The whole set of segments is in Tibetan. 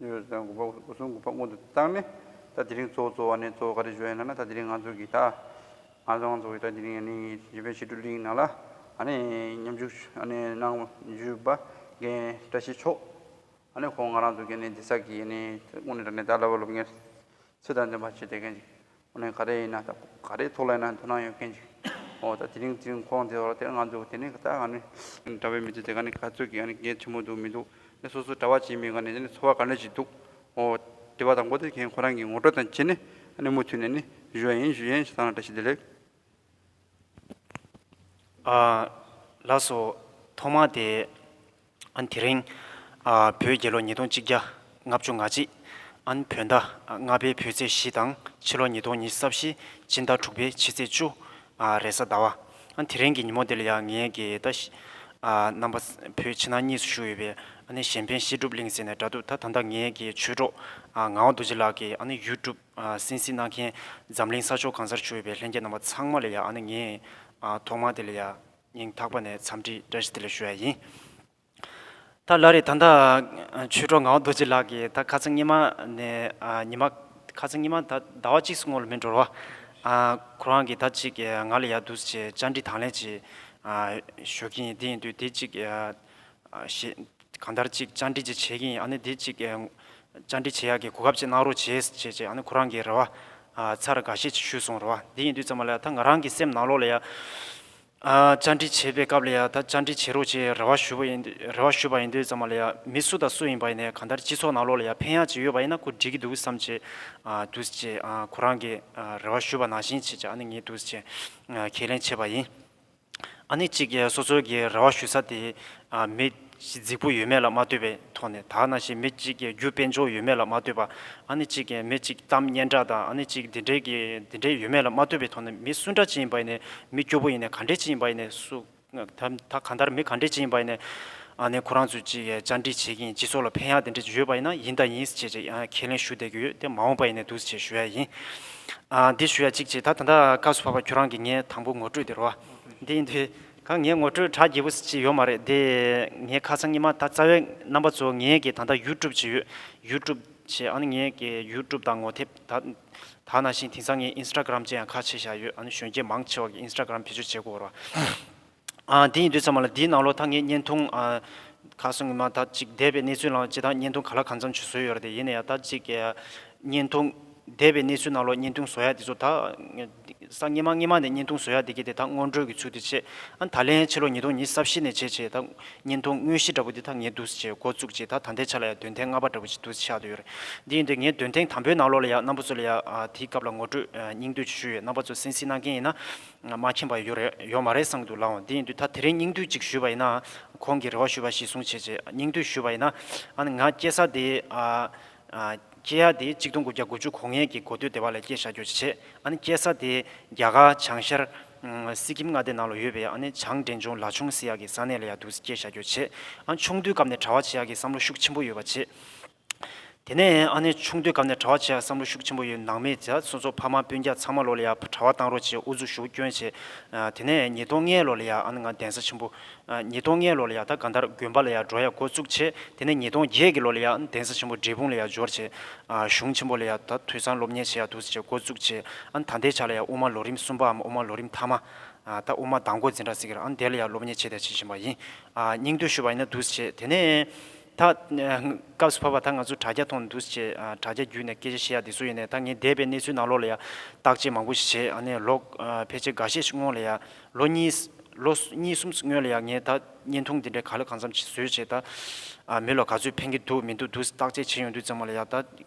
ཉེ་བའི་ཟླ་དགུ་པ་གསུམ་དགུ་པ་སྔོན་དུ་བཏང་ནས་ད་དེ་རིང་གཙོ་བོ་གཙོ་བ་ནི་གཙོ་བོ་ག་རེ་བྱོས་ཡིན་ན་ན་ད་དེ་རིང་ང་ཚོ་གིས་ད་ང་ཚོ་ང་ཚོ་གིས་ད་དེ་རིང་ནི་བྱིས་པའི་ཕྱི་དྲོ་གླིང་ནང་ལ་ཨ་ནི་མཉམ་ཞུགས་ཨ་ནི་གནང་བཞུད་པ་རྒན་བཀྲ་ཤིས་མཆོག་ཨ་ནི་ཁོང་ང་རང་ཚོ་གིས་ནི་འདི་ས་གིས་ནི་དངོས་གནས་དྲ་གནས་ད་ལ་བ་སློབ་གཉེར་ཚོས་དང་འདོན་པ་བྱེད་བསྡད་མཁན་ཅིག་ཁོ་ནི་ག་རེ་ཡིན་ན་ད་ག་རེའི་ཐོག་ལ་ཡིན་ན་འདོད་ན་ཡོད་མཁན་ཞིག་ཨོ་ད་དེ་རིང་དེ་རིང་ཁོང་དེ་ཐོག་ལ་དེ་རིང་ང་འདུག་དེ་ནས་ད་ག་ནི། གྲྭ་བའི་མི་ཚོས་དེ་ག་ནི་ག་ཚོད་ཀྱི་ག་གེ་ཆེན་པོ་འདུག་མི་འདུག་ནས་སོ་སོ་གྲྭ་བ་གཅིག་མིན་ག་ནི་དེ་ནི་འཚོ་བ་ག་འདྲ་ཞིག་འདུག་ཨོ། དེ་བ་དང་པོ་དེ་མཁན་ཁོ་རང་གི་ངོ་སྤྲོད་དང་བཅས་ནས་ག་ནི་མུ་མཐུད་ནས་ནི་ཞུ་ཡ་ཡིན་ཞུ་ཡན་ཞེས་ད་ང་བཀྲ་ཤིས་བདེ་ལེགས། ཨ། ལགས་སོ། ཐོག་མ་དེ། ཨན་དེ་རིང། བོད་རྒྱལ་ལོ་ཉིས་སྟོང་གཅིག་བརྒྱ་ལྔ་བཅུ་ང་གཅིག། ཨན་བོད་ཟླ་ལྔ་པའི་བོད་ཚེས་བཞི་དང་ཕྱི་ལོ་ཉིས་སྟོང་ཉིས་ས་བཞི་སྤྱི་ཟླ་དྲུག་པའི་ཕྱི་ཚེས་བཅུ། རེས་གཟའ་ཟླ་བ། ཨན་དེ་རིང་གི་ཉིན་མོ་འདི་ལ་ཡང་ངས་དགེ་ཡེ་ད་ཤི། རྣམ་པ། བོད་ཕྱི་ནང་གཉིས་སུ་བཞུགས་ཡོད་པའི་ཨ་ནེ་གཞན་ཕན་བཤད་སྒྲུབ་གླིང་ཟེར་ནས་དྲ་འདུག་ད་ད་ལྟ་ངའི་དགེ་ཆོས་གྲོགས་ངག་དབང་རྡོ་རྗེ་ལགས་ཀྱིས་ཨ་ནེ་ཡུལ་གྲུབ་སེམས་གཟིགས་གནང་མཁན་འཛམ་གླིང་ས་ཕྱོགས་གང་སར་བཞུགས་ཡོད་པའི་ལྷན་རྒྱས་རྣམ་པ་ཚང་མ་ལ་ཡང་ཨ་ནེ་ངས་ཐོག་མར་དེ་ལ་ཡང། སྙིང་ཐག་པ་ནས་འཚམས་འདྲི་བཀྲ་ཤིས་བདེ་ལེགས་ཞུ་ཡ་ཡིན། ད་ལ་རེ་ད་ལྟ་ཆོས་གྲོགས་ངའོ་རྡོ་རྗེ་ལགས་ཀྱིས་ད་ཁ་ཚ་སྙེ་མ་ནས་ཉི་མ། ཁ་ཚ་སྙེ་མ་ད་ཟླ་བ་གཅིག་སྔོ་ལ་མི་འགྲོར་བ། ཁོ་རང་གིས་ད་ཅིག་ང་ལ་ཡག་འདུག་ཅེས་བཅར་འདྲི་དང་ལེན་ཅིག་ཞུ་གིན་འདི་ཡིན་དུས་དེ་ཅིག་ཞེས། གང་ལྟར་ཅིག་བཅར་འདྲི་ཅི་བྱེད་ཀྱིན་ཡིན་དེ་ཅིག་བཅར་འདྲི་བྱེད་ཡག་གི་གོ་སྐབས་ཅིག་གནང་རོགས་བྱེད་ཅེས་བྱས་ཁོ་རང་གི་རེ་བ་ཚར་དགའ་བཤད་ཅིག་ཞུས་སོང་རེ་བ་དེ་ཡིན་དུས་ཙམ་ལ་ད་ང་རང་གི་སེམས་ནང་ལོགས་ལ་ཡང་བཅར་འདྲི་བྱེད་པའི་སྐབས་ལ་ཡང་ད་བཅར་འདྲི་བྱེད་རོགས་ཅེས་རེ་བ་ཞུས་པ་ཡིན་དུས་ཙམ་ལ་ཡང་མི་སུ་དང་སུ་ཡིན་པ་ཡིན་ནའི་གང་ལྟར་སྤྱི་ཚོགས་ནང་ལོགས་ལ་ཡང་ཕན་ཡག་ཅིག་ཡོད་པ་ཡིན་ན་ཁོ་འདྲི་གི་འདུག་བསམ་ཅེས་དུས་ཅེས་ཁོ་རང་གི་རེ་བ་ཞུས་པ་ནང་བཞིན་ཅེས་ངས་དུས་ཅེས་ཁས་ལེན་བྱས་པ་ཡིན། ཨ་ནི་གཅིག་སོ་སོའི་གི་རེ་བ་ཞུ་ས་དེ། མི། རྫིག་པོ་ཡོད་མེད་ལ་མ་ལྟོས་པའི་ཐོག་ནས་དག་ན་ཞིག་མི་གཅིག་གི་རྒྱུ་དཔེ་འཇོག་ཡོད་མེད་ལ་མ་ལྟོས་པ། ཨ་ནི་གཅིག་མི་གཅིག་གཏམ་སྙན་གྲགས་དང་ཨ་ནི་གཅིག་འདི་འདྲའི་གི་འདི་འདྲའི་ཡོད་མེད་ལ་མ་ལྟོས་པའི་ཐོག་ནས་མི་སུ་འདྲ་ཅི་ཡིན་པ་ཡིན་ནས་མི་སྐྱོ་པོ་ཡིན་ནས་ག་འདྲས་ཅི་ཡིན་པ་ཡིན་ནས་སུ། ད་ག་འདར་མི་ག་འདྲས་ཅི་ཡིན་པ་ཡིན་ནས། ཨ་ནི་ཁོ་རང་ཚོས་གཅིག་བཅར་འདྲི་བྱེད་ཀྱིན་སྤྱི་ཚོགས་ལ་ཕན་ཡག་དེ་འདྲས་ཡོད་པ་ཡིན་ན་ཡིན་ད་ཡིན་ཞེས་ཀྱི་ཁས་ལེན་ཞུ་བསྡད་ཀྱི་ཡོད་དེ་མ་འོངས་པ་ཡིན་ནས་འདུག་ཅེས་ཞུ་ཡ་ཡིན། འདི་ཞུ་ཡ་གཅིག་ཅེས་ད་ད་ལྟ་སྐབས་སུ་བབ་པ་ཁྱོད་རང་གིས་ངའི་དང་པོ་ངོ་སྤྲོད་དེར་བ། འདི་ཡིན་དུས། གང་ངའི་ངོ་སྤྲོད་གྲ་རྒྱས་པོ་ཞིག་ཡོད་མ་རེད་དེ། ངའི་ཁ་སང་ཉི་མ་ད་རྩ་བའི་རྣམ་པ་གཙོ་བོ་ངས་ཀྱི་ད་ལྟ་ཡུལ་གྲུབ་བྱེད་ཡོད། ཡུལ་གྲུབ་བྱེད་ཨ་ནི་ངས་ཀྱི་ཡུལ་གྲུབ་དང་ངོ་དེབ་ད་ད་ན་བཞིན་དེང་སང་ངས Instagram ཅེས་ཡང་ཁ་ཕྱེས་བཞག་ཡོད་ཨ་ནི་གཞོན་སྐྱེས་མང་ཆེ་བ་གིས Instagram བེད་སྤྱོད་བྱེད་དགོས་བར་བ། དེ་ཡིན་དུས་ཚང་མ་ལ་དེའི་ནང་ལོགས་ད་ངས་བརྙན་ཐུང། ཁ་སང་ངོ་མ་ད་ཅིག་བསྡད་པའི་གནས་ཚུལ་ནང་ཇི་ལྟར་བརྙན་ཐུང་ག་ལ་གང་འཚམ་བྱུ་བཟོས་ཡོད་རེད་ཡིན་ན་ཡང་ད་ཅིག། བརྙན་ཐུང། བསྡད་པའི་གནས་ཚུལ་ནང་ལོགས་བརྙན་ཐུང་བཟོ་ཡ་དེ་ཚོ་ད། སང་སྔན་མ་སྔན་མ་ནས་བརྙན་ཐུང་བཟོ་ཡ་དེ་གི་དེ་ད་སྔོན་འགྲོས་ཀྱི་ཚུལ་དུ་བྱས། ཨ་ད་ལན་ཕྱི་ལོ་ཉིས་སྟོང་ཉིས་ས་བཞི་ནས་བྱས་བྱས་ད། བརྙན་ཐུང་དངོས་གཞི་འདྲ་པོ་དེ་ད་ངས་འདུག་ཅེས་འགོ་བཙུགས་རྗེས་ད་ད་ལྟའི་ཆ་ལ་ཡང་འདོན་ཐེངས་ལྔ་པ་འདྲ་པོ་ཅིག་འདུག་ཆགས་སྡོད་ཡོད་རེད། དེ་ཡིན་དུས་ངས་འདོན་ཐེངས་དང་པོའི་ནང་ལོགས་ལ་ཡང་རྣམ་པ་ཚོ་ལ་ཡང་དེའི་སྐབས་ལ་ངོ་སྤྲོད་སྙིང་བསྡུས་ཆུ་ཆུ་ཡོད་རྣམ་པ་ཚོ་སེམས་གཟིགས་གནང་མཁན་ཡིན་ན། ང་མ་མཁྱེན་པ་ཡོད་རེད་ཡོད་མ་རེད་བསམ་གི་འདུག་ལགས་འོང་དེ་ཡིན་དུས་ད་དེ་རིང་སྙིང་བསྡུས་གཅིག་ཞུས་པ་ཡིན་ན་ཁོང་གིས་རེ་བ་ཞུས་པ་གཞི་བཟུང་བྱེད་ཅེས་སྙིང་བསྡུས་ཞུས་པ་ཡིན་ན་ཨ་ནི་ང་སྐྱེས་ས་དེ་སྐྱེས་ཡ་དེ་གཅིག་སྟོང་དགུ་བརྒྱ་དགུ་བཅུ་གོ་ལྔའི་གི་གོ་སྟོད་སྡེ་བ་ལས་སྐྱེས་བཞག་རྒྱུ་བྱེད་ཨ་ནི་སྐྱེས་ས་དེ་རྒྱ་གར་བྱང་ཤར་སི་ཀིམ་མངའ་སྡེ་ནང་ལ་ཡོད་པའི་ཨ་ནི་བྱང་འདྲེན་ཆུང་ལ་ཆུང་སི་ཡ་གི་ས་གནས་ལ་ཡ་འདུག་སྐྱེས་བཞག་རྒྱུ་བྱེད་ཨ་ནི་ཆུང་དུས་སྐབས་ནས་གྲྭ་བ་བྱེད་ཡ་གི་བསམ་བློ་ཤུགས་ཆེན་པོ་ཡོད་པ་བྱེད། དེ་ནས་ཨ་ནེ་ཆུང་དུས་སྐབས་ནས་གྲྭ་བ་བྱེད་ཡག་བསམ་བློ་ཤུགས་ཆེན་པོ་ཡོད་ནང་མི་བྱ་སོ་སོ་ཕ་མ་སྤུན་རྒྱ་ཚང་མ་ལོ་ལེ་ཡག་གྲྭ་བ་བཏང་རོགས་བྱེད་དབུ་འཛུགས་ཞུ་སྐྱོན་བྱེད་དེ་ནས་ཉིས་སྟོང་ལྔའི་ལོ་ལེ་ཡག་ཨ་ནེ་ང་གདན་ས་ཆེན་པོ་ཉིས་སྟོང་ལྔའི་ལོ་ལེ་ཡག་ད་ག་འདར་དགོན་པ་ལེ་ཡག་འགྲོ་ཡག་འགོ་བཙུགས་བྱེད་དེ་ནས་ཉིས་སྟོང་བརྒྱད་ཀྱི་ལོ་ལེ་ཡག་ཨ་ནེ་གདན་ས་ཆེན་པོ་འབྲས་སྤུངས་ལེ་ཡག་འབྱོར་བྱེད་གཞུང་ཆེན་པོ་ལེ་ཡག་ད་དུས་སང་སློབ་གཉེར་བྱེད་ཡག་འདུག་བྱེད་འགོ་བཙུགས་བྱེད་ཨ་ནེ་ད་འདས་ཆགས་ལེ་ཡག་དབུ་མ་ལོ་རིམ་གསུམ་པའམ་དབུ་མ་ལོ་རིམ་ཐ་མ་ད་དབུ་མ་དང་འགོ་འཛིན་གྲྭ་ཟེར་གྱི་ར་ཨ་ནེ་དེ་ལེ་ཡག་སློབ་གཉེར་བྱེད་བསྡད་བྱེད་བཞིན་པ་ཡིན་སྙིང་འདོད་ཞུ་བ་ཡིན་ན་འདུག་བྱེད་དེ་ནས་ད། སྐབས་སུ་བབ་པ་ད་ང་ཚོས་དྲ་རྒྱ་ཐོག་ནས་འདུག་ཅེས་དྲ་རྒྱ་བརྒྱུད་ནས་སྐད་ཆ་བཤད་ཡ་འདི་ཚོ་ཡིན་ནས་ད་ངས་འདས་པའི་གནས་ཚུལ་ནང་ལོགས་ལ་ཡ་བརྟག་དཔྱད་མང་པོ་ཞིག་བྱས་ཨ་ནས་ལོག་ཕལ་ཆེར་འགའ་ཤས་ཤིག་སྔོན་ལ་ཡ་ལོ་གཉིས། ལོ་གཉིས་གསུམ་སྔོན་ལ་ཡ་ངས་ད་བརྙན་ཐུང་འདི་འདྲའི་ག་ལེ་གང་འཚམ་བཟོས་བྱས་ད། མི་ལ་ག་ཚོད་ཕན་གྱི་འདུག་མི་འདུག་འདུག་བརྟག་དཔྱད་བྱས་ཡོང་དུས་ཙང་མ་ལ་ཡ་ད།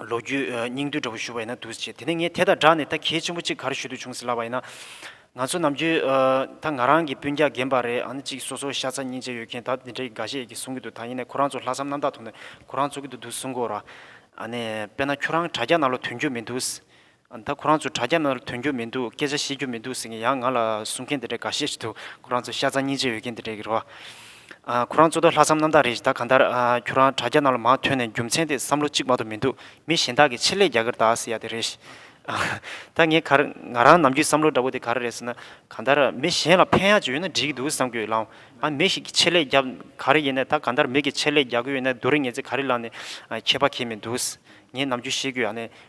ལོ་རྒྱུས་སྙིང་བསྡུས་འདྲ་བོ་ཞུ་བ་ཡིན་ན་འདུག་ཅེས་དེ་ནས་ངས་དེ་དང་སྦྲགས་ནས་ད་གལ་ཆེན་པོ་གཅིག་གར་ཞུ་འདོད་བྱུང་ཟེར་ལབ་པ་ཡིན་ན། ང་ཚོ་ནམ་རྒྱུན་ད་ང་རང་གི་སྤུན་རྒྱག་རྒན་པ་རེད་ཨང་ཅིག་སོ་སོ་ཤ་ཚ་སྙིང་རྗེ་ཡོད་མཁན་ད་འདི་འདྲ་ཡི་ག་ཤེད་ཡི་གེ་གསུང་གི་འདུག་ད་ཡིན་ནས་ཁོ་རང་ཚོ་ལྷག་བསམ་རྣམ་དག་ཐོག་ནས་ཁོ་རང་ཚོ་གི་འདུག་འདུག་གསུང་གོ་ར། ཨ་ནས་དཔེ་ན་ཁྱོད་རང་དྲ་རྒྱ་ནང་ལོ་དོན་རྒྱུ་མི་འདུག། ད་ཁོ་རང་ཚོས་དྲ་རྒྱ་ནང་ལ་དོན་རྒྱུ་མི་འདུག་སྐད་ཆ་བཤད་རྒྱུ་མི་འདུག་ཟེར་མཁན་ཡང་ང་ལ་གསུང་མཁན་དེ་འདྲ་འགའ་ཤས་ཤིག་འདུག་ཁོ་རང་ཚོ་ཤ་ཚ་སྙིང་རྗེ་ཡོད་མཁན་དེ་འདྲ་གི་རེད་བ། ཁོ་རང་ཚོ་ད་ལྷག་བསམ་རྣམ་དག་རེད་ཞེ་ད་གང་ལྟར་ཁྱོད་རང་དྲ་རྒྱ་ནང་ལ་མང་ཐོན་ནས་རྒྱུ་མཚན་དེ་བསམ་བློ་གཅིག་མ་གཏོགས་མི་འདུག་མི་གཞན་དག་གི་ཆེད་ལས་རྒྱ་གར་དག་ཟེར་ཡ་དེ་རེད། ད་ངས་གར་ང་རང་ནམ་རྒྱུན་བསམ་བློ་འདྲ་པོ་དེ་ག་རེ་རེད་ཟེར་ན་གང་ལྟར་མི་གཞན་ལ་ཕན་ཡག་ཅིག་ཡོད་ན་འགྲིག་གི་འདུག་བསམ་གྱི་ཡོད་ལམ། ཨ་མི་ཞིག་གི་ཆེད་ལས་རྒྱབ་ག་རེ་ཡིན་ན་ད་གང་ལྟར་མི་གི་ཆེད་ལས་རྒྱག་གི་ཡོད་ན་རྡོ་རིང་ངེས་ཚེ་ག་རེ་ལ་ནས་ཁྱད་པ་ཁྱེད་མི་འདུག་ངས་ནམ་རྒྱུན་བཤད་རྒྱུ་ཡང་ནས་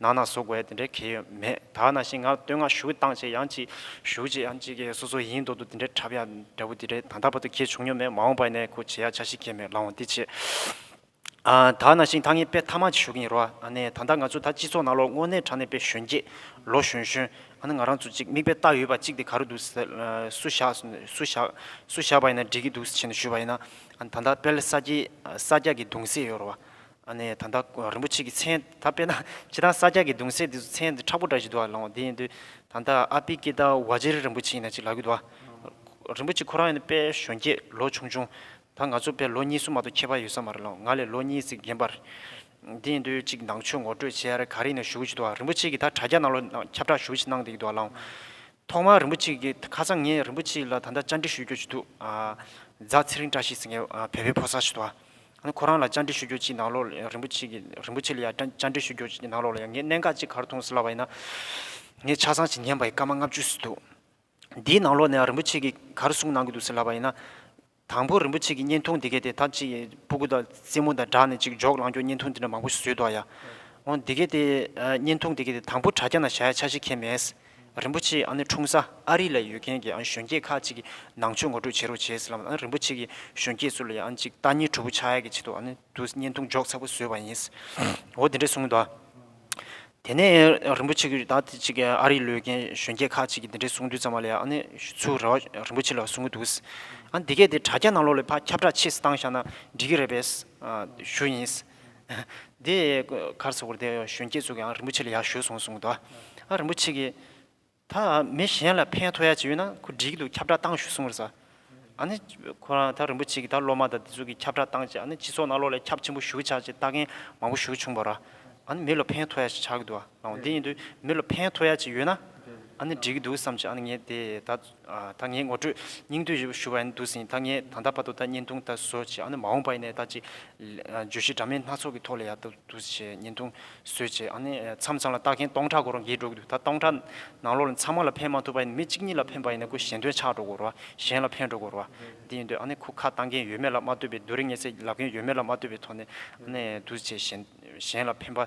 ནང་ན་བཟོ་དགོས་ཡ་དེ་འདྲའི་གལ་ཡོད་མེད་དག་ནང་བཞིན་ང་བསྟོད་བསྔགས་ཞུ་བཏང་བྱས་ཡང་ཅིག་ཞུ་བྱས་ཡང་ཅིག་གེ་སོ་སོ་ཡིན་མདོག་ཏུ་དེ་འདྲའི་འཁྲབ་ཡ་འདྲ་བོ་དེ་འདྲའི་ད་ལྟ་བར་དུ་གེ་བྱུང་མྱོང་མེད་མ་འོངས་པ་ནས་གོ་བྱེད་ཡ་ཆ་ཞིག་གེ་མེད་ལ་འོང་འདི་བྱེད་ཨ་དག་ནང་བཞིན་ད་ངས་དཔེ་ཐ་མ་ཅིག་ཞུ་གིན་ཡོད་རོ་ཨ་ནེ་ད་ལྟ་ང་ཚོ་ད་སྤྱི་ཚོགས་ནང་ལོ་སྔོ་ནད་དྲག་ནས་པའི་གཞོན་སྐྱེས་ལོ་གཞོན་གཞོན་ཨ་ནེ་ང་རང་ཚོ་ཅིག་མིག་དཔེ་བལྟ་ཡོད་པ་ཅིག་དེ་ག་རུ་འདུག་ཟེར་སུ་བཞག་སུ་བཞག་སུ་བཞག་པ་ཡིན་ན་འགྲིག་གི་འདུག་ཟེར་བཞིན་དུ་ཞུས་པ་ཡིན་ན་ད་ལྟ་དཔལ་ས་སྐྱའི་ས་སྐྱ་གི་གདུང་སྲས་ཡོད་རོ་ཨ་ཨ་ནེ། ད་ལྟ་རིན་པོ་ཆེ་གི་མཚན་ད་དཔེ་ན་ཁྱེད་རང་ས་སྐྱ་གི་གདུང་སྲས་དེ་ཚོ་མཚན་འདི་ཁྲག་པོ་འདྲ་ཞིག་འདུག་ཨ་ལོང་དེ་ཡིན་དུས་ད་ལྟ་ཨ་པི་ཀེ་ཏཱ་བྷ་ཇེ་རི་རིན་པོ་ཆེ་ཡིན་ན་ཅིག་ལབ་གི་འདུག་ཨ། རིན་པོ་ཆེ་ཁོ་རང་ཡིན་ན་དཔལ་གཞོན་སྐྱེས་ལོ་ཆུང་ཆུང་ད་ང་ཚོ་དཔལ་ལོ་གཉིས་གསུམ་མ་གཏོགས་ཁྱད་པར་ཡོད་ས་མ་རེད་ལོང་ང་ལས་ལོ་གཉིས་གཅིག་རྒན་པ་རེད། དེ་ཡིན་དུས་ཅིག་ནང་ཆོས་ངོ་སྤྲོད་བྱེད་ཡ་རེད་ག་རེ་ཡིན་ན་ཞུ་གི་ཅིག་འདུག་ཨ་རིན་པོ་ཆེ་གི་ད་དྲ་རྒྱ་ནང་ལོ་ཁྱབ་བསྒྲགས་ཞུ་གི་ཅིག་གནང་བསྡད་ཀྱི་འདུག་ཨ་ལོང། ཐོག་མར་རིན་པོ་ཆེ་གི་ཁ་སང་ངས་རིན་པོ་ཆེ་ལ་ད་ལྟ་བཅར་འདྲི་ཞུ་རྒྱུ་ཅིག་འདུག་ཨ། རྫ་ཚེ་རིང་བཀྲ་ཤིས་ཟེར་མཁན་བལ་བོའི་ཕོ་གསར་ཞིག་འདུག་ཨ། ཁོ་རང་ལ་བཅར་འདྲི་ཞུ་རྒྱུ་གཅིག་ནང་ལོགས་ལ་ཡང་རིན་པོ་ཆེ་གི་རིན་པོ་ཆེ་ལ་ཡང་བཅར་འདྲི་ཞུ་རྒྱུ་གཅིག་ནང་ལོགས་ལ་ཡང་ངས་གནད་འགག་གཅིག་གར་མཐོང་ཟེར་ལབ་པ་ཡིན་ན། ངས་ཆ་ཚང་ཞིག་ཉན་པ་ཡི་སྐར་མ་ལྔ་བཅུ་ཟིན་འདུག་འདིའི་ནང་ལོགས་ནས་ཡང་རིན་པོ་ཆེ་གི་གར་གསུངས་གནང་གི་འདུག་ཟེར་ལབ་པ་ཡིན་ན། དང་པོ་རིན་པོ་ཆེ་གི་བརྙན་ཐུང་འདི་གའི་དེ་ད་ཅི་ཡི་སྤུ་གུ་དང་རྩེད་མོ་དང་སྦྲགས་ནས་ཅིག་འཇོག་ལང་ཀྱོག་བརྙན་ཐུང་འདི་འདྲ་མང་པོ་བཟོས་འདུག་ཡ། འོ་འདི་གའི་དེ་བརྙན་ཐུང་འདི་གའི་དེ་དང་པོ་དྲ་རྒྱ་ན་བཞག་ཡ་ཆ་ཞིག་ཁྱེད་མེད། རིན་པོ་ཆེའི་ཨ་ནི་འཁྲུངས་ས་ཨ་རི་ལ་ཡོད་མཁན་གྱི་གཞོན་སྐྱེས་ཁག་ཅིག་གིས་ནང་ཆོས་ངོ་སྤྲོད་བྱེད་རོགས་བྱས་སླབས་ཨ་རིན་པོ་ཆེ་གི་གཞོན་སྐྱེས་ཚོ་ལ་ཡང་ཅིག་རྟ་ཉིའི་གྲུ་བོ་ཆ་ཡ་གི་ཆེད་དུ་ཨ་ནི་དུ་བརྙན་ཐུང་འཇོག་ཚ་པོ་བཟོས་པ་ཡིན། འོ་དེ་འདྲས་སོང་དུ་ཨ། དེ་ནས་རིན་པོ་ཆེ་གིས་ད་ཐེངས་ཅིག་ཨ་རི་ལོས་མཁན་གཞོན་སྐྱེས་ཁག་ཅིག་གིས་དེ་འདྲས་གསུང་དུས་ཙམ་མ་ལ་ཡ་ཨ་ནི་ཚུར་རེ་བ་རིན་པོ་ཆེ་ལ་གསུང་གི་འདུག་ཨ་འདི་གས་དེ་དྲ་རྒྱ་ནང་ལོགས་ལས་ཕ་ཁྱབ་བསྒྲགས་ཕྱིས་སུ་བཏང་བཞག་ན་འགྲིག་གི་རེད་པས། ཞུ་ཡིན། དེ་གར་སོགས་པར་དེ་གཞོན་སྐྱེས་ཚོ་གིའང་རིན་པོ་ཆེ་ལ་ཡར་ཞུ་སོང་གསུངས་འདུག་ཨ་རིན་པོ་ཆེ་གིས། ད་མི་གཞན་ལ་ཕན་ཐོགས་ཡ་ཅིག་ཡོད་ན་ཁོ་འགྲིག་གི་འདུག་ཁྱབ་བསྒྲགས་བཏང་ཞུ་གསུངས་རེད། ཨ་ནི་ཁོ་རང་ད་རིན་པོ་ཆེ་གིས་ད་སློབ་མ་དང་དེ་ཚོ་གིས་ཁྱབ་བསྒྲགས་བཏང་རྗེས་ཨ་ནི་སྤྱི་ཚོགས་ནང་ལོགས་ལས་ཁྱབ་ཆེན་པོ་ཞུ་གི་ཆགས་ཅེས་ལྟ་མཁན་མང་པོ་ཞུ་བྱུང་བར། ཨ་ནི་མི་ལ་ཕན་ཐོགས་ཡ་ཞིག་ཆགས་ཀྱི་འདུག་ཨང་འོ་དེ་ཡིན་དུས་མི་ལ་ཕན་ཐོགས་ཡ་ཅིག་ཡོད་ན་ཨ་ནི་འགྲིག་གི་འདུག་བསམ་རྗེས་ཨ་ནི་ངས་དེ་ད། ད་ངས་ངོ་སྤྲོད་སྙིང་བསྡུས་ཞུ་བ་ཡིན་འདུག་ཟིན་ད་ངས་ད་ལྟ་བར་དུ་ད་བརྙན་ཐུང་ད་བཟོ་བྱས་ཨ་ནི་མ་འོངས་པ་ཡིན་ནའི་ད་ཅིག་བརྗོད་གཞི་འདྲ་མིན་སྣ་ཚོགས་ཀྱི་ཐོག་ལ་ཡག་ཏུ་འདུག་བྱས་བརྙན་ཐུང་བཟོས་བྱས་ཨ་ནི་མཚམས་ཚང་ལ་ལྟ་མཁན་སྟོང་ཕྲག་གོ་རོ་འགས་འགྲོ་གི་འདུག་ད་སྟོང་ཕྲག་ནང་ལོགས་ལ་མཚམས་མ་ལ་ཕན་མ་ཐུབ་པ་ཡིན་ན་མི་གཅིག་གཉིས་ལ་ཕན་པ་ཡིན་ན་ཁུ་གཞན་དོན་ཆགས་འགྲོ་གོ་རོ་གཞན་ལ་ཕན་འགྲོ་གོ་རོ་འདི་ཡིན་འདུག་ཨ་ནི་ཁུ་ཁ་བཏང་མཁན་ཡོད་མེད་ལ་མ་ལྟོས་པའི་རྡོ་རིང་ངེ་ཚེ་ལབ་མཁན་ཡོད་མེད་ལ་མ་ལྟོས་པའི་ཐོག་ནས་ནས་འདུག་བྱས་གཞན་གཞན་ལ་ཕན་པ།